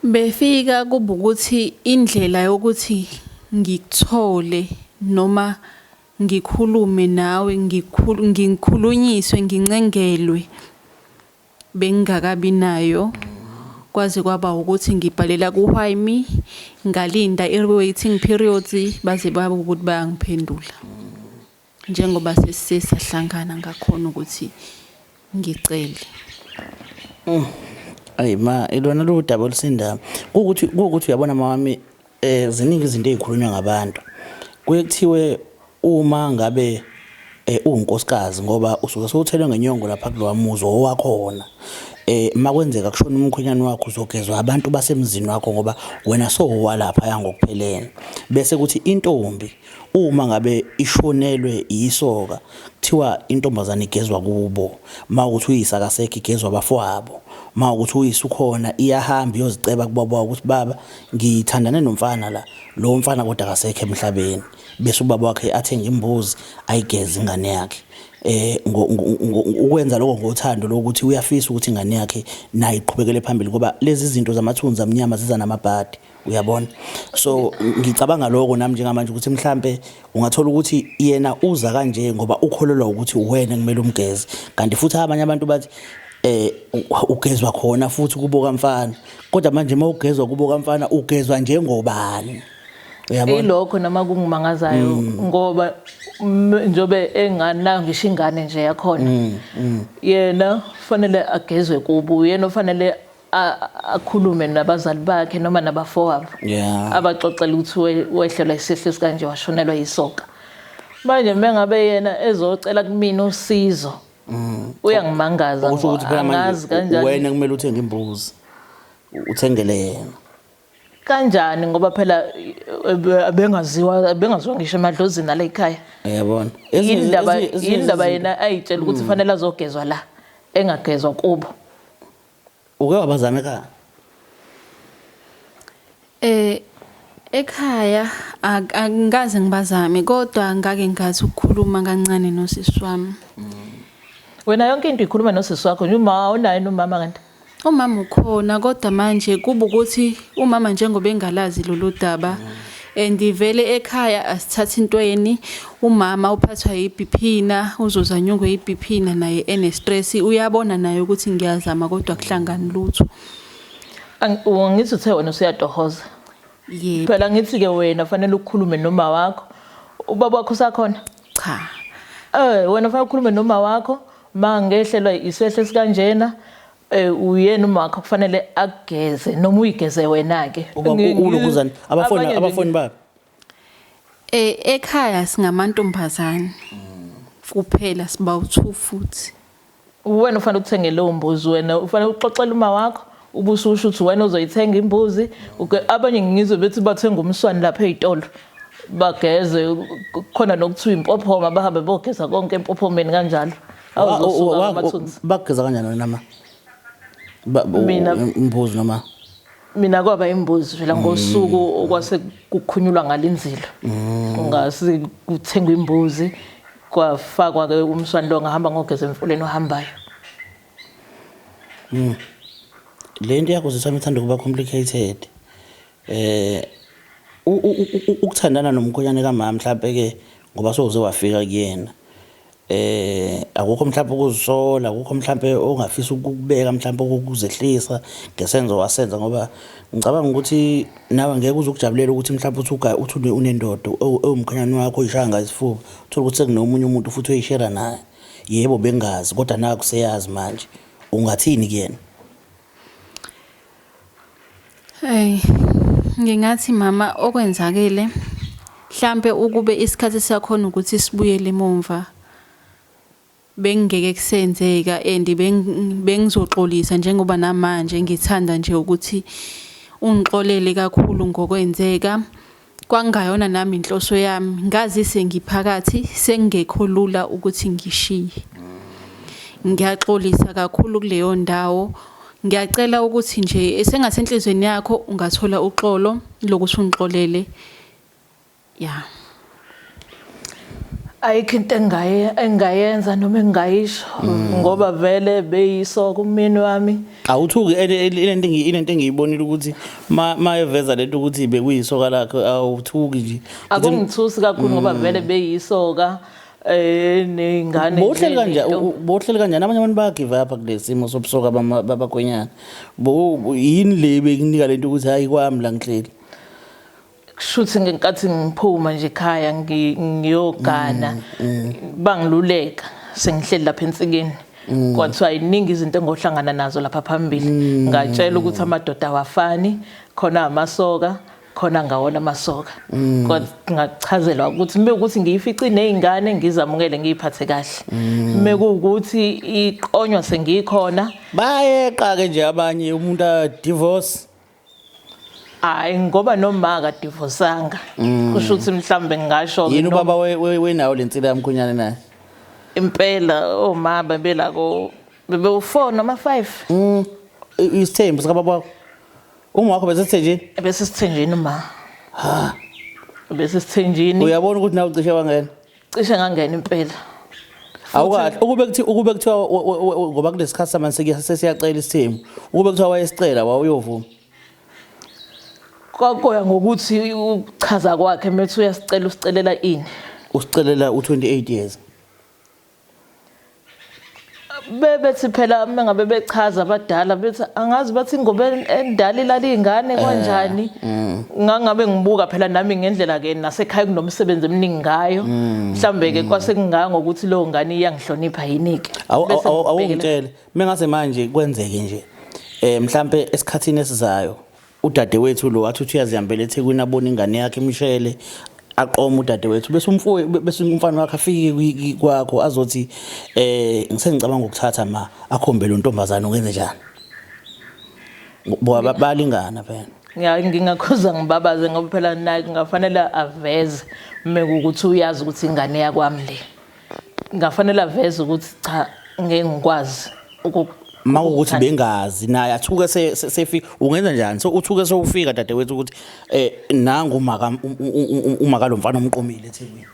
befika kuba ukuthi indlela yokuthi ngikuthole noma ngikhulume nawe ngikhulunyiswe ngincengelwe Bengingakabi nayo kwaze kwaba ukuthi ngibhalela ku-why me ngalinda i-waiting periods baze baba ukuthi bayangiphendula njengoba sesisesahlangana ngakhona ukuthi ngicele ayi ma ilona lolu daba olusindaba kuwukuthi kuwukuthi uyabona mawami Eh ziningi izinto ezikhulunywa ngabantu. Kuye kuthiwe uma ngabe eh uwunkosikazi ngoba usuke sewuthelwe ngenyongo lapha kulowa muzi owakhona eh makwenzeka kushona umkhwenyana wakho uzogezwa abantu basemzini wakho ngoba wena sowalapha yangokuphelele bese kuthi intombi Uma ngabe ishonelwe yisoka kuthiwa intombazane igezwa kubo uma ukuthi uyise akasekho igezwa abafowabo uma ukuthi uyise ukhona iyahamba iyoziceba kubaba wayo ukuthi baba ngithandane nomfana la lo mfana kodwa akasekho emhlabeni bese ubaba wakhe athenga imbuzi ayigeze ingane yakhe eh ukwenza lokho ngothando lokuthi uyafisa ukuthi ingane yakhe nayo iqhubekele phambili ngoba lezi zinto zamathunzi amnyama ziza namabhadi uyabona so ngicabanga lokho nami njengamanje ukuthi mhlambe ungathola ukuthi yena uza kanje ngoba ukholelwa ukuthi uwena kumele umgeze kanti futhi abanye abantu bathi eh ugezwa khona futhi kubo kamfana kodwa manje uma ugezwa kubo kamfana ugezwa njengobani uyabona ilokho noma kungimangazayo mm. ngoba njobe enganayo ngisho ingane nje yakhona mm, mm. yena fanele agezwe kubo yena ofanele akhulume nabazali bakhe noma nabafowabo yeah. abaxoxela ukuthi wehlelwa isehlo esikanje washonelwa yisoka manje mengabe yena ezocela kumina usizo mm. uyangimangaza angazi kanjani wena kumele uthenge imbuzi uthengele yena kanjani ngoba phela abengaziwa eh, abengaziwa ngisho emadlozini nale ekhaya yabona indaba indaba yena ayitshela ukuthi mm. fanele azogezwa la engagezwa kubo Uke wabazana ekhaya? Eh ekhaya ak- angikaze ngibazame kodwa ngake ngathi ukukhuluma kancane nosisi wami. Wena yonke into ikhuluma nosisi wakho nje uma awunaye nomama kanti. Umama ukhona kodwa manje kuba ukuthi umama njengoba engalazi lolu daba and vele ekhaya asithathi intweni umama uphathwa yi-BP na uzoza nyungwe yi-BP na naye ene-stress uyabona naye ukuthi ngiyazama kodwa kuhlangani lutho ngithi uthe wena usuyatohoza yebo phela ngithi-ke wena fanele ukhulume noma wakho ubaba wakho usakhona cha um wena fanele ukhulume noma wakho ma ngehlelwa isehlo esikanjena Eh uyena umakho kufanele akugeze noma uyigeze wena ke. Ulukuzani abafoni abafoni babo. Eh ekhaya singamantombazane. Kuphela siba u2 futhi. Uwena ufanele ukuthenge leyo mbuzi wena ufanele uxoxele uma wakho ubususho ukuthi wena uzoyithenga imbuzi abanye ngizwe bethi bathenga umswani lapha ezitolo bageze khona nokuthiwa impophoma bahambe bogeza konke empophomeni kanjalo bageza kanjani wena ma mina mbuzi noma mina kwaba imbuzi phela ngosuku mm. okwase kukhunyulwa ngalinzilo mm. ungase kuthengwa imbuzi kwafakwa ke umswani lo ngahamba ngogeza emfuleni ohambayo mm. le nto yakho zisami ithanda ukuba complicated eh ukuthandana nomkhonyane kamama mhlawumbe ke ngoba soze wafika kuyena eh akukho mhlawumbe ukuzisola akukho mhlawumbe ongafisa ukubeka mhlawumbe ukuzehlisa ngesenzo wasenza ngoba ngicabanga ukuthi nawe ngeke uze ukujabulela ukuthi mhlawumbe uthi uga uthi unendoda ewumkhanyana wakho oyishanga isifuba uthola ukuthi sekunomunye umuntu futhi oyishera naye yebo bengazi kodwa naku seyazi manje ungathini kuyena Eyi ngingathi mama okwenzakele mhlampe ukube isikhathi sakhona ukuthi sibuyele emumva bengingeke kusenzeka and bengizoxolisa njengoba namanje ngithanda nje ukuthi ungixolele kakhulu ngokwenzeka. Kwakungayona nami inhloso yami, ngazi sengiphakathi sengekho lula ukuthi ngishiye. Ngiyaxolisa kakhulu kuleyo ndawo. Ngiyacela ukuthi nje esengasenhlizweni yakho ungathola uxolo lokuthi ungixolele. Ya. ayikho into engingayenza noma engingayisho mm. ngoba vele beyiso kumini wami awuthuki ilento ilento engiyibonile ukuthi ma eveza lento ukuthi bekuyisoka lakhe awuthuki nje akungithusi kakhulu ngoba mm. vele beyisoka eh nezingane bohleli kanjani bohleli kanjani abanye abantu bayagive apha kulesimo sobusoka babagwenyana bo yini le bekunika lento ukuthi hayi kwami la ngihleli kushuthi ngenkathi ngiphuma nje ekhaya ngiyogana mm, mm. bangiluleka sengihleli lapha ensikeni mm. kwathiwa yiningi izinto engohlangana nazo lapha phambili ngatshela ukuthi amadoda awafani khona amasoka khona ngawona amasoka ngachazelwa ukuthi uma ukuthi ngiyifice nezingane ngizamukele ngiyiphathe kahle uma kuwukuthi iqonywa sengikhona bayeqa ke nje abanye umuntu a divorce hayi ngoba noma akadivosanga mm. kusho ukuthi mhlawumbe ngingasho yini ubaba wenawo le nsila yamkhunyane naye impela omama oh, bebelako bebe u4 noma 5 mm isithembu sikababa wakho uma wakho bese sithenjini bese sithenjini ma ha bese sithenjini uyabona ukuthi nawe ucishe wangena cishe ngangena impela awukahle ukube kuthi ukube kuthiwa ngoba kulesikhathi samanje sesiyacela isithembu ukube kuthiwa wayesicela wawuyovuma kwakoya ngokuthi uchaza kwakhe methi uyasicela usicelela ini usicelela u28 years bebethi phela uma ngabe bechaza abadala bethi angazi bathi ngoba endala ilala izingane eh, kanjani mm. ngangabe ngibuka phela nami ngendlela ke nasekhaya kunomsebenzi eminingi ngayo mm. mhlambe ke mm. kwase kunganga ukuthi lo ngane iyangihlonipha yini ke awungitshele mina ngase manje kwenzeke nje eh mhlambe esikhathini esizayo Udadewethu lo wathi uthi uyazihambela eThekwini abone ingane yakhe imshele aqoma udadewethu bese umfowe bese umfana wakhe afike kwakho azothi eh ngisengicabanga ukuthatha ma akhombe lo ntombazana ungenze njani ngoba balingana phela ngiya ngingakhoza ngibabaze ngoba phela naye kungafanele aveze uma ukuthi uyazi ukuthi ingane yakwami le ngafanele aveze ukuthi cha ngeke ngikwazi uma ukuthi bengazi naye athuke sefika ungenza njani so uthuke sewufika dadewethu ukuthi eh nangu umaka um, um, um, umaka lo mfana omqomile eThekwini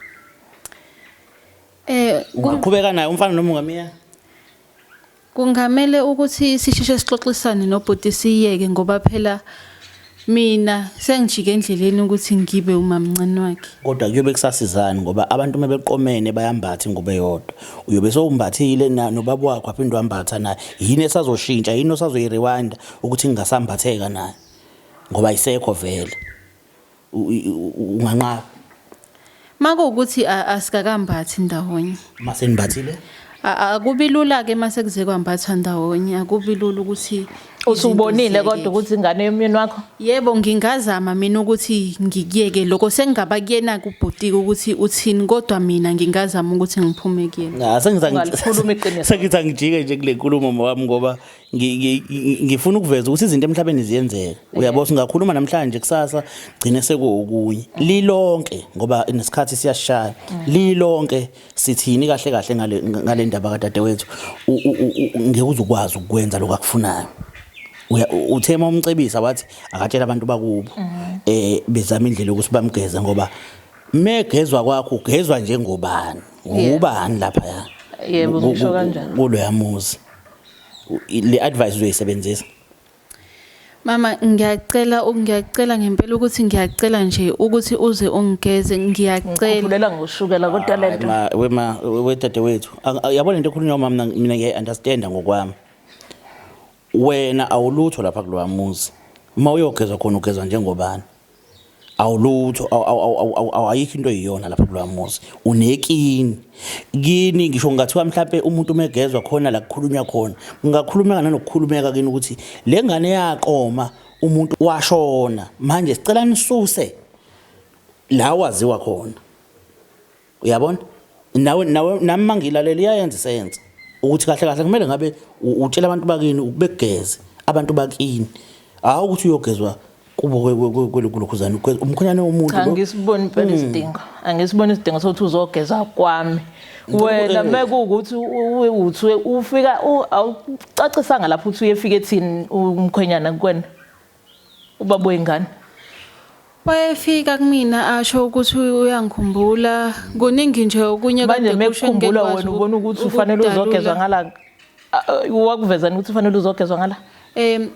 eh ungaqhubeka naye umfana noma ungamiya Kungamele ukuthi sisheshe sixoxisane nobhuti siyeke ngoba phela mina sengijike endleleni ukuthi ngibe umamncane wakhe kodwa kuyobe kusasizani ngoba abantu uma beqomene bayambatha ingubo eyodwa uyobe sowumbathile nobaba wakho aphinde wambatha naye yini esazoshintsha yini osazoyiriwanda ukuthi ngingasambatheka naye ngoba ayisekho vele unganqaba Makuwukuthi a- asikakambathi ndawonye. uma senimbathile A- a- Akubi lula-ke uma sekuze kwambathwa ndawonye. Akubi lula ukuthi. izinto Usubonile ziyeke. kodwa ukuthi ingane yomyeni wakho? Yebo ngingazama mina ukuthi ngikuyeke lokho sengingaba kuyena kubhutiki ukuthi uthini kodwa mina ngingazama ukuthi ngiphume kuyena. Ah, sengithi angi- Ungalikhuluma iqiniso. sengithi angijike nje kule nkulumo mawami ngoba ngifuna ukuveza ukuthi izinto emhlabeni ziyenzeka uyabo singakhuluma namhlanje kusasa gcine sekuwukunye lilonke ngoba nesikhathi siyashaya lilonke sithini kahle kahle ngale ngale ndaba kadadewethu ngeke uzukwazi ukwenza lokho akufunayo uthema umcebisa wathi akatshela abantu bakubo mhm. eh bezama indlela yokuthi bamgeze ngoba megezwa kwakho ugezwa njengobani ubani lapha ya yebo ngisho kanjani kulo yamuzi le advice uzoyisebenzisa Mama ngiyacela ngiyacela ngempela ukuthi ngiyacela nje ukuthi uze ungigeze ngiyacela. Ngikhulela ngoshukela kodwa lento. Ma wema wedadewethu yabona into ekhulunywa mama mina ngiyayi understand ngokwami. Wena awulutho lapha kulowa muzi. Uma uyogeza khona ugeza njengobani? awulutho awayikho into eyiyona lapha kuloya muzi unekini kini ngisho ngathiwa mhlampe umuntu umegezwa khona la kukhulunywa khona kungakhulumeka nanokukhulumeka kini ukuthi le ngane yaqoma umuntu washona manje sicela nisuse la waziwa khona Uyabona? Nawe nawe nami mangilalela iyayenza iseyenza ukuthi kahle kahle kumele ngabe utshela abantu bakini ukubegeze abantu bakini. Hawu ukuthi uyogezwa kubo kwelokulokhuzana umkhonyane womuntu. Cha ngisiboni impela hmm. isidingo. Angisiboni isidingo sokuthi uzogeza kwami. wena mekuwukuthi uthi ufika awucacisanga lapho uthi uyefika ethini umkhwenyana kuwena Ubaba wengane wayefika kumina asho ukuthi uyangikhumbula kuningi nje okunye manje mekukhumbula wena ubona ukuthi ufanele uzogezwa ngala wakuvezani ukuthi ufanele uzogezwa ngala um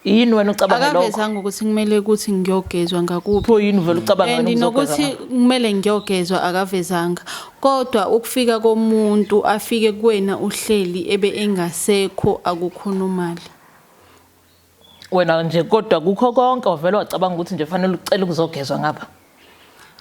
yini wena ucabanga lokho akavezanga ukuthi kumele ukuthi ngiyogezwa ngakuphi pho yini vele ucabanga wena and nokuthi kumele ngiyogezwa akavezanga kodwa ukufika komuntu afike kuwena uhleli ebe engasekho akukhona umali wena nje kodwa kukho konke wavele wacabanga ukuthi nje fanele ucela ukuzogezwa ngapha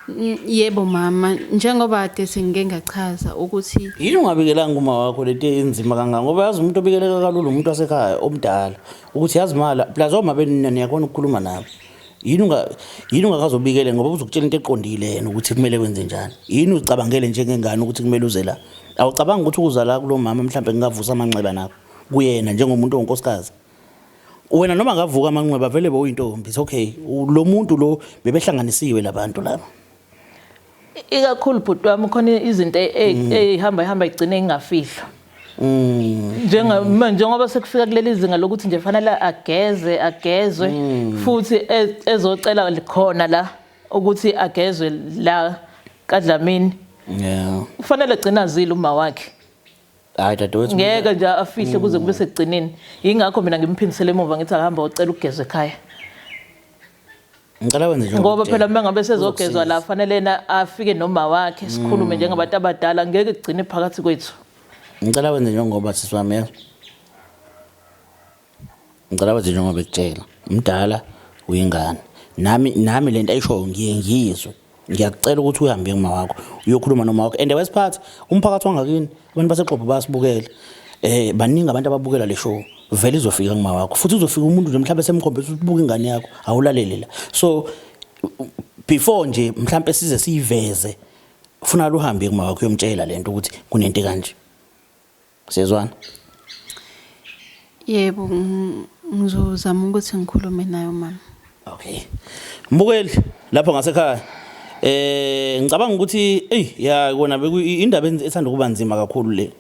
N- Yebo mama, njengoba ade sengike ngachaza ukuthi yini ungabikelanga uma wakho lento enzima kangaka ngoba yazi umuntu obikeleka kalula umuntu wasekhaya omdala ukuthi yazi mala plus oma benina niyakhona ukukhuluma nabo yini unga yini ungakazobikele ngoba uzokutshela into eqondile yena ukuthi kumele wenze njani yini uzicabangele njengengane ukuthi kumele uze la awucabanga ukuthi ukuza la kulomama mhlawumbe ngingavusa amanxeba nakho kuyena njengomuntu owonkosikazi wena noma ngavuka amanxeba vele bowuyintombi it's okay lo muntu lo bebehlanganisiwe labantu laba ikakhulu bhuti wami khona izinto ehamba e, ihamba igcine ingafihlwa Mm. njenga mm. njengoba sekufika kuleli zinga lokuthi nje fanele ageze agezwe mm. futhi e, ezocela likhona la ukuthi agezwe la kaDlamini yeah kufanele gcina zile uma wakhe hayi dadewethu ngeke nje afihle kuze kube sekugcineni yingakho mina ngimphindisele emuva ngithi akahamba ocela ukugeza ekhaya ngicela wenze njengoba ngoba phela uma ngabe sezogezwa la fanele yena afike noma wakhe sikhulume mm. njengabantu abadala ngeke kugcine phakathi kwethu ngicela wenze njengoba sisi wami yebo Ngicela bathi njengoba ekutshela mdala uyingane nami nami lento ayishoyo ngiye ngiyizwe ngiyakucela ukuthi uhambe kuma wakho uyokhuluma noma wakho and wesiphathi umphakathi wangakini abantu basexobo bayasibukela eh baningi abantu ababukela le show vele izofika kuma wakho futhi uzofika umuntu nje mhlawumbe semkhombisa ukuthi buka ingane yakho awulalele la so before nje mhlawumbe size siyiveze ufuna luhambe kuma wakho uyomtshela lento ukuthi kunento kanje Siyezwana? Yebo, ngizozama ukuthi ngikhulume naye umama. Okay. Mbukeli lapho ngasekhaya. Eh ngicabanga ukuthi ey ya kona beku indaba ethanda ukuba nzima kakhulu le.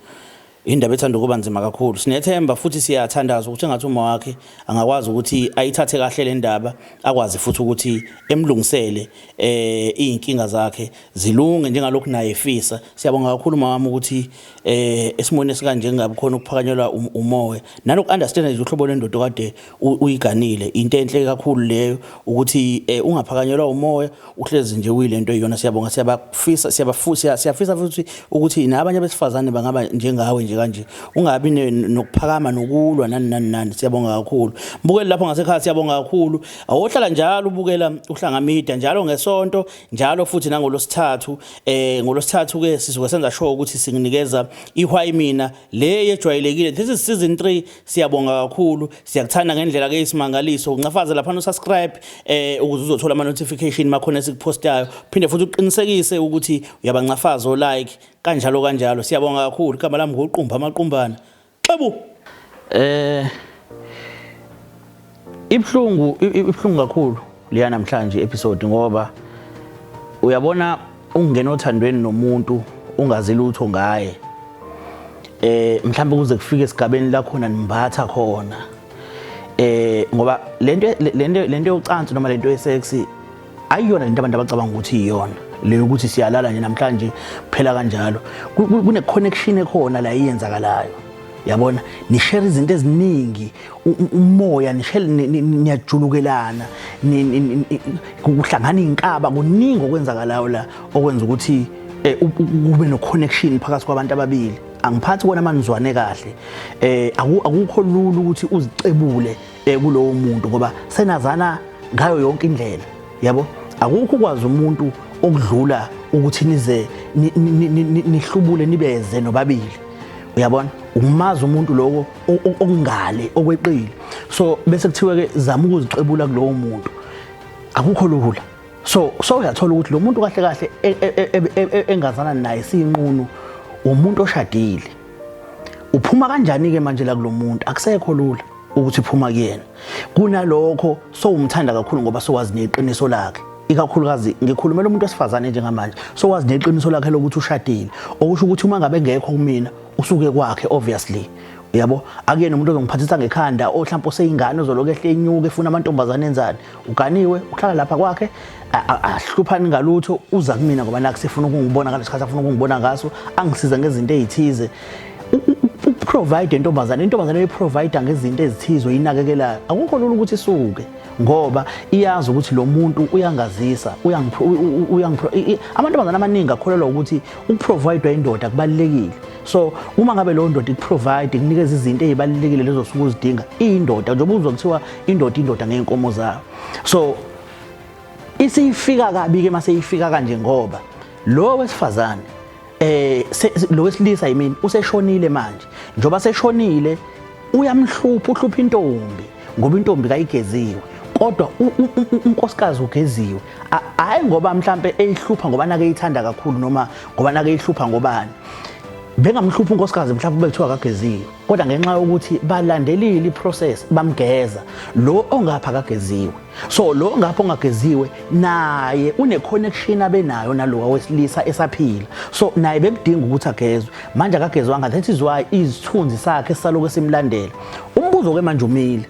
Indaba ethanda ukuba nzima kakhulu. Sinethemba futhi siyathandaza ukuthi engathi uma wakhe angakwazi ukuthi ayithathe kahle le ndaba akwazi futhi ukuthi emlungisele eh izinkinga zakhe zilunge njengalokhu naye efisa. Siyabonga kakhulu mama ukuthi eh esimweni esikanje kungabi khona ukuphakanyelwa um-, umoya naloku understand nje uhlobo lwendoda kade uyiganile into enhle kakhulu leyo ukuthi eh, ungaphakanyelwa umoya uhlezi nje uyilento iyona siyabonga siyabafisa siyabafusa siyafisa futhi ukuthi nabanye besifazane bangaba njengawe nje kanje ungabi nokuphakama nokulwa nani nani nani siyabonga kakhulu mbukeli lapho ngasekhaya siyabonga kakhulu awohlala njalo ubukela uhlanga media njalo ngesonto njalo futhi nangolosithathu eh ngolosithathu ke sizoke senza sure ukuthi singinikeza ihwayi mina le yejwayelekile this is season 3 siyabonga kakhulu siyakuthanda ngendlela ke isimangaliso ncafaze lapha no subscribe eh ukuze uzothola ama notification makhona esikupostayo phinde futhi uqinisekise ukuthi uyabancafaza o like kanjalo kanjalo siyabonga kakhulu igama lami ngoqumba amaqumbana Xebu. Eh ibhlungu ibhlungu kakhulu liya namhlanje episode ngoba uyabona ungena othandweni nomuntu ungazi lutho ngaye eh mhlawumbe kuze kufike esigabeni la khona nimbatha khona eh ngoba lento lento lento yocansi noma lento yesexy ayiyona lento abantu abacabanga ukuthi iyona le yokuthi siyalala nje namhlanje kuphela kanjalo kune connection ekhona la iyenzakalayo yabona nishare izinto eziningi umoya niyajulukelana kuhlangana inkaba kuningi okwenzakalayo la okwenza ukuthi eh, kube no connection phakathi kwabantu ababili angiphathi kona amanizwane kahle eh akukho lula ukuthi uzicebule eh, kulowo muntu ngoba senazana ngayo yonke indlela yabo akukho ukwazi umuntu okudlula ukuthi nize nihlubule nibeze nobabili uyabona umazi umuntu lokho okungale okweqile so bese kuthiwa ke zama ukuzixebula kulowo muntu akukho lula so so uyathola ukuthi lo muntu kahle kahle e, e, e, engazana naye siyinqunu umuntu oshadile uphuma kanjani ke manje la kulomuntu akusekho lula ukuthi phuma kuyena kunalokho sowumthanda kakhulu ngoba sowazi neqiniso lakhe ikakhulukazi ngikhulumela umuntu wesifazane njengamanje sowazi neqiniso lakhe lokuthi ushadile okusho ukuthi uma ngabe ngekho kumina usuke kwakhe obviously uyabo akuyena umuntu ozongiphathisa ngekhanda ohlawumbe oseyingane ozoloku ehle enyuke efuna amantombazane enzani uganiwe uhlala lapha kwakhe ahluphani ngalutho uza kumina ngoba nakusefuna ukungibona ngalesikhathi afuna ukungibona ngaso angisiza ngezinto ezithize uprovide intombazane intombazane iprovide ngezinto ezithize inakekelayo akukho lula ukuthi isuke ngoba iyazi ukuthi lo muntu uyangazisa uyangiphro uyangiphro amantombazane amaningi akholelwa ukuthi ukuprovide indoda kubalekile so uma ngabe leyo ndoda ikuprovide ikunikeza izinto ezibalulekile lezo suku uzidinga iyindoda njengoba uzwa kuthiwa indoda indoda ngeenkomo zayo so isiyifika kabi ke mase ifika kanje ngoba lo wesifazane eh lo wesilisa i mean useshonile manje njoba seshonile uyamhlupha uhlupha intombi ngoba intombi kayigeziwe kodwa unkosikazi ugeziwe hayi ngoba mhlampe eyihlupha ngoba nake eyithanda kakhulu noma ngoba nake eyihlupha ngobani bengamhlupha unkosikazi mhlawumbe bekuthiwa kageziwe kodwa ngenxa yokuthi balandelile iprocess bamgeza lo ongapha kageziwe so lo ongapha ongageziwe naye une connection abenayo nalowa wesilisa esaphila so naye bekudinga ukuthi agezwe manje akagezwanga that is why izithunzi sakhe saloku simlandela umbuzo ke manje umile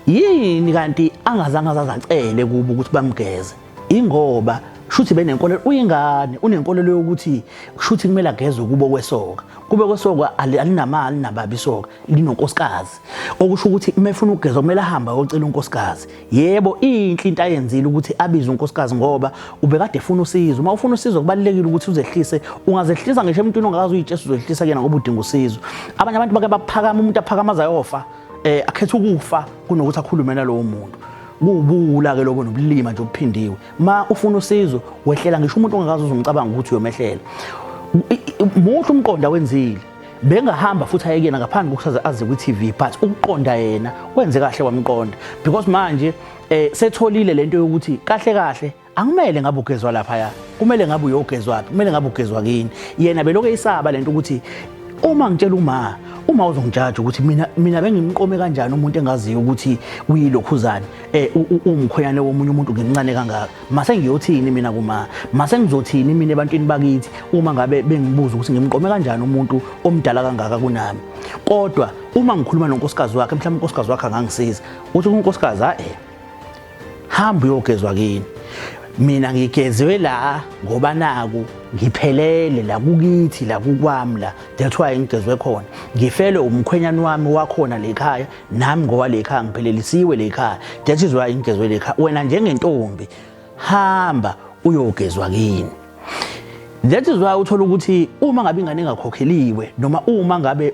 yini kanti angazange azazacele kubo ukuthi bamgeze ingoba shuthi benenkolelo uyingane unenkolelo yokuthi shuthi kumele ageze kubo kwesoka kube kwesoka alinama alinababa isoka linonkosikazi okusho ukuthi uma efuna ukugeza kumele ahambe ayocela unkosikazi Yebo inhle into ayenzile ukuthi abize unkosikazi ngoba ubekade efuna usizo. Uma ufuna usizo kubalekile ukuthi uzehlise, ungazehlisa ngisho emntwini ongakazi uyitshesa uzohlisa kuyena ngoba udinga usizo. Abanye abantu bake baphakama umuntu aphakama azayofa, eh akhetha ukufa kunokuthi akhulume nalowo muntu. Kuwubula ke lokho nobulima nje obuphindiwe. Ma ufuna usizo wehlela ngisho umuntu ongakazi uzumcabanga ukuthi uyomehlela. Muhle umqondo awenzile. bengahamba futhi ayekena ngaphandle kokusaze aze kwi-tv but ukuqonda yena wenze kahle wamqonda because manje eh setholile lento yokuthi kahle kahle angimele ngabe ugezwa lapha ya kumele ngabe uyogezwa phi kumele ngabe ugezwa kini yena beloku eyisaba lento ukuthi uma ngitshela uma uma uzongijaja ukuthi mina mina bengimqome kanjani umuntu engaziyo ukuthi uyilokhuzane eh umkhonyane womunye umuntu ngincane kangaka mase ngiyothini mina kuma mase ngizothini mina ebantwini bakithi uma ngabe bengibuza ukuthi ngimqome kanjani umuntu omdala kangaka kunami kodwa uma ngikhuluma nonkosikazi wakhe mhlawumbe unkosikazi wakhe angangisiza uthi unkosikazi ha eh hamba uyogezwa kini mina ngigezwe la ngoba naku ngiphelele la kukithi la kukwami la that's why ngigezwe khona ngifele umkhwenyana wami wakhona lekhaya nami ngowalekhaya ngiphelelisiwe lekhaya that is why ngigezwe lekhaya wena njengentombi hamba uyogezwa kini that is why uthola ukuthi uma ngabe ingane engakhokheliwe noma uma ngabe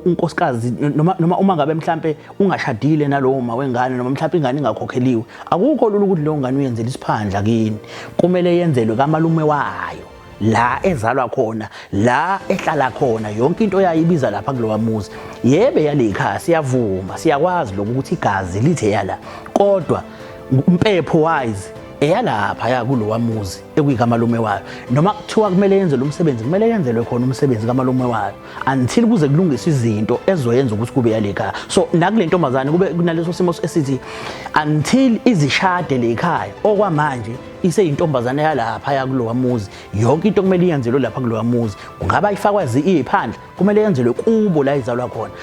unkosikazi noma noma uma ngabe mhlambe ungashadile nalowo ma wengane noma mhlambe ingane engakhokheliwe akukho lula ukuthi leyo ngane uyenzele isiphandla kini kumele yenzelwe kamalume wayo la ezalwa khona la ehlala khona yonke into yayibiza lapha kulowa muzi yebe yalikhaya siyavuma siyakwazi lokho ukuthi igazi lithe yala kodwa impepho wise eyalapha ya kulowa muzi ekuyikamalume wayo noma kuthiwa kumele yenze lo msebenzi kumele yenzelwe khona umsebenzi kamalume wayo until kuze kulungiswe izinto ezoyenza ukuthi kube yalekhaya so nakule ntombazane kube kunaleso simo esithi until izishade lekhaya okwamanje iseyintombazane yalapha yakulowa muzi yonke into kumele iyenzelwe lapha kulowa muzi kungaba ifakwa ziye phandle kumele yenzelwe kubo la izalwa khona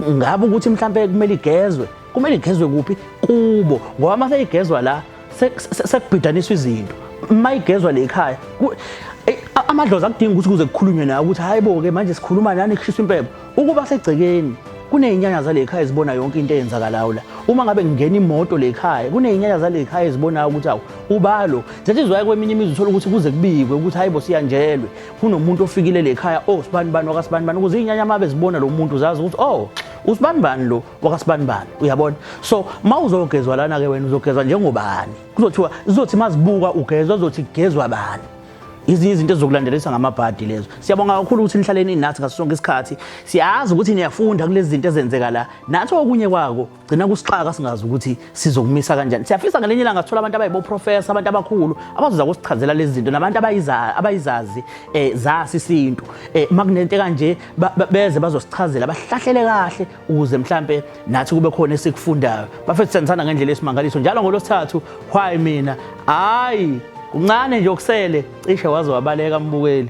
ngabe ukuthi mhlawumbe kumele igezwe kumele igezwe kuphi kubo ngoba uma seyigezwa la sekubhidaniswa izinto uma igezwa le khaya amadlozi akudinga ukuthi kuze kukhulunywe nawo ukuthi hayi bo-ke manje sikhuluma nani kushisa impepho Ukuba segcekeni kunezinyanya zale khaya ezibona yonke into eyenzakalayo la uma ngabe ngingena imoto le khaya kunezinyanya zale khaya ezibonayo ukuthi awu ubalo that is why kweminye imizi uthola ukuthi kuze kubikwe ukuthi hayibo siyanjelwe kunomuntu ofikile le khaya oh sibani bani wakasibani bani ukuze izinyanya uma bezibona lo muntu zazi ukuthi oh usibani bani lo wakasibani bani uyabona so uma uzogezwa lana-ke wena uzogezwa njengobani kuzothiwa zizothi uma zibuka ugezwa zizothi kugezwa bani Izinye izinto ezokulandelisa ngamabhadi lezo. Siyabonga kakhulu ukuthi nihlaleni nathi ngaso sonke isikhathi. Siyazi ukuthi niyafunda kulezi zinto ezenzeka la. Nathi okunye kwako gcina kusixaka singazi ukuthi sizokumisa kanjani. Siyafisa ngelinye ilanga sithola abantu abayibo professor, abantu abakhulu abazoza kusichazela lezi zinto nabantu abayiza abayizazi eh zasi isintu. Eh makunento kanje beze bazosichazela bahlahlele kahle ukuze mhlampe nathi kube khona esikufundayo bafethu senzisana ngendlela esimangaliso njalo ngolosithathu why mina hayi kuncane nje okusele cishe waze wabaleka mbukeli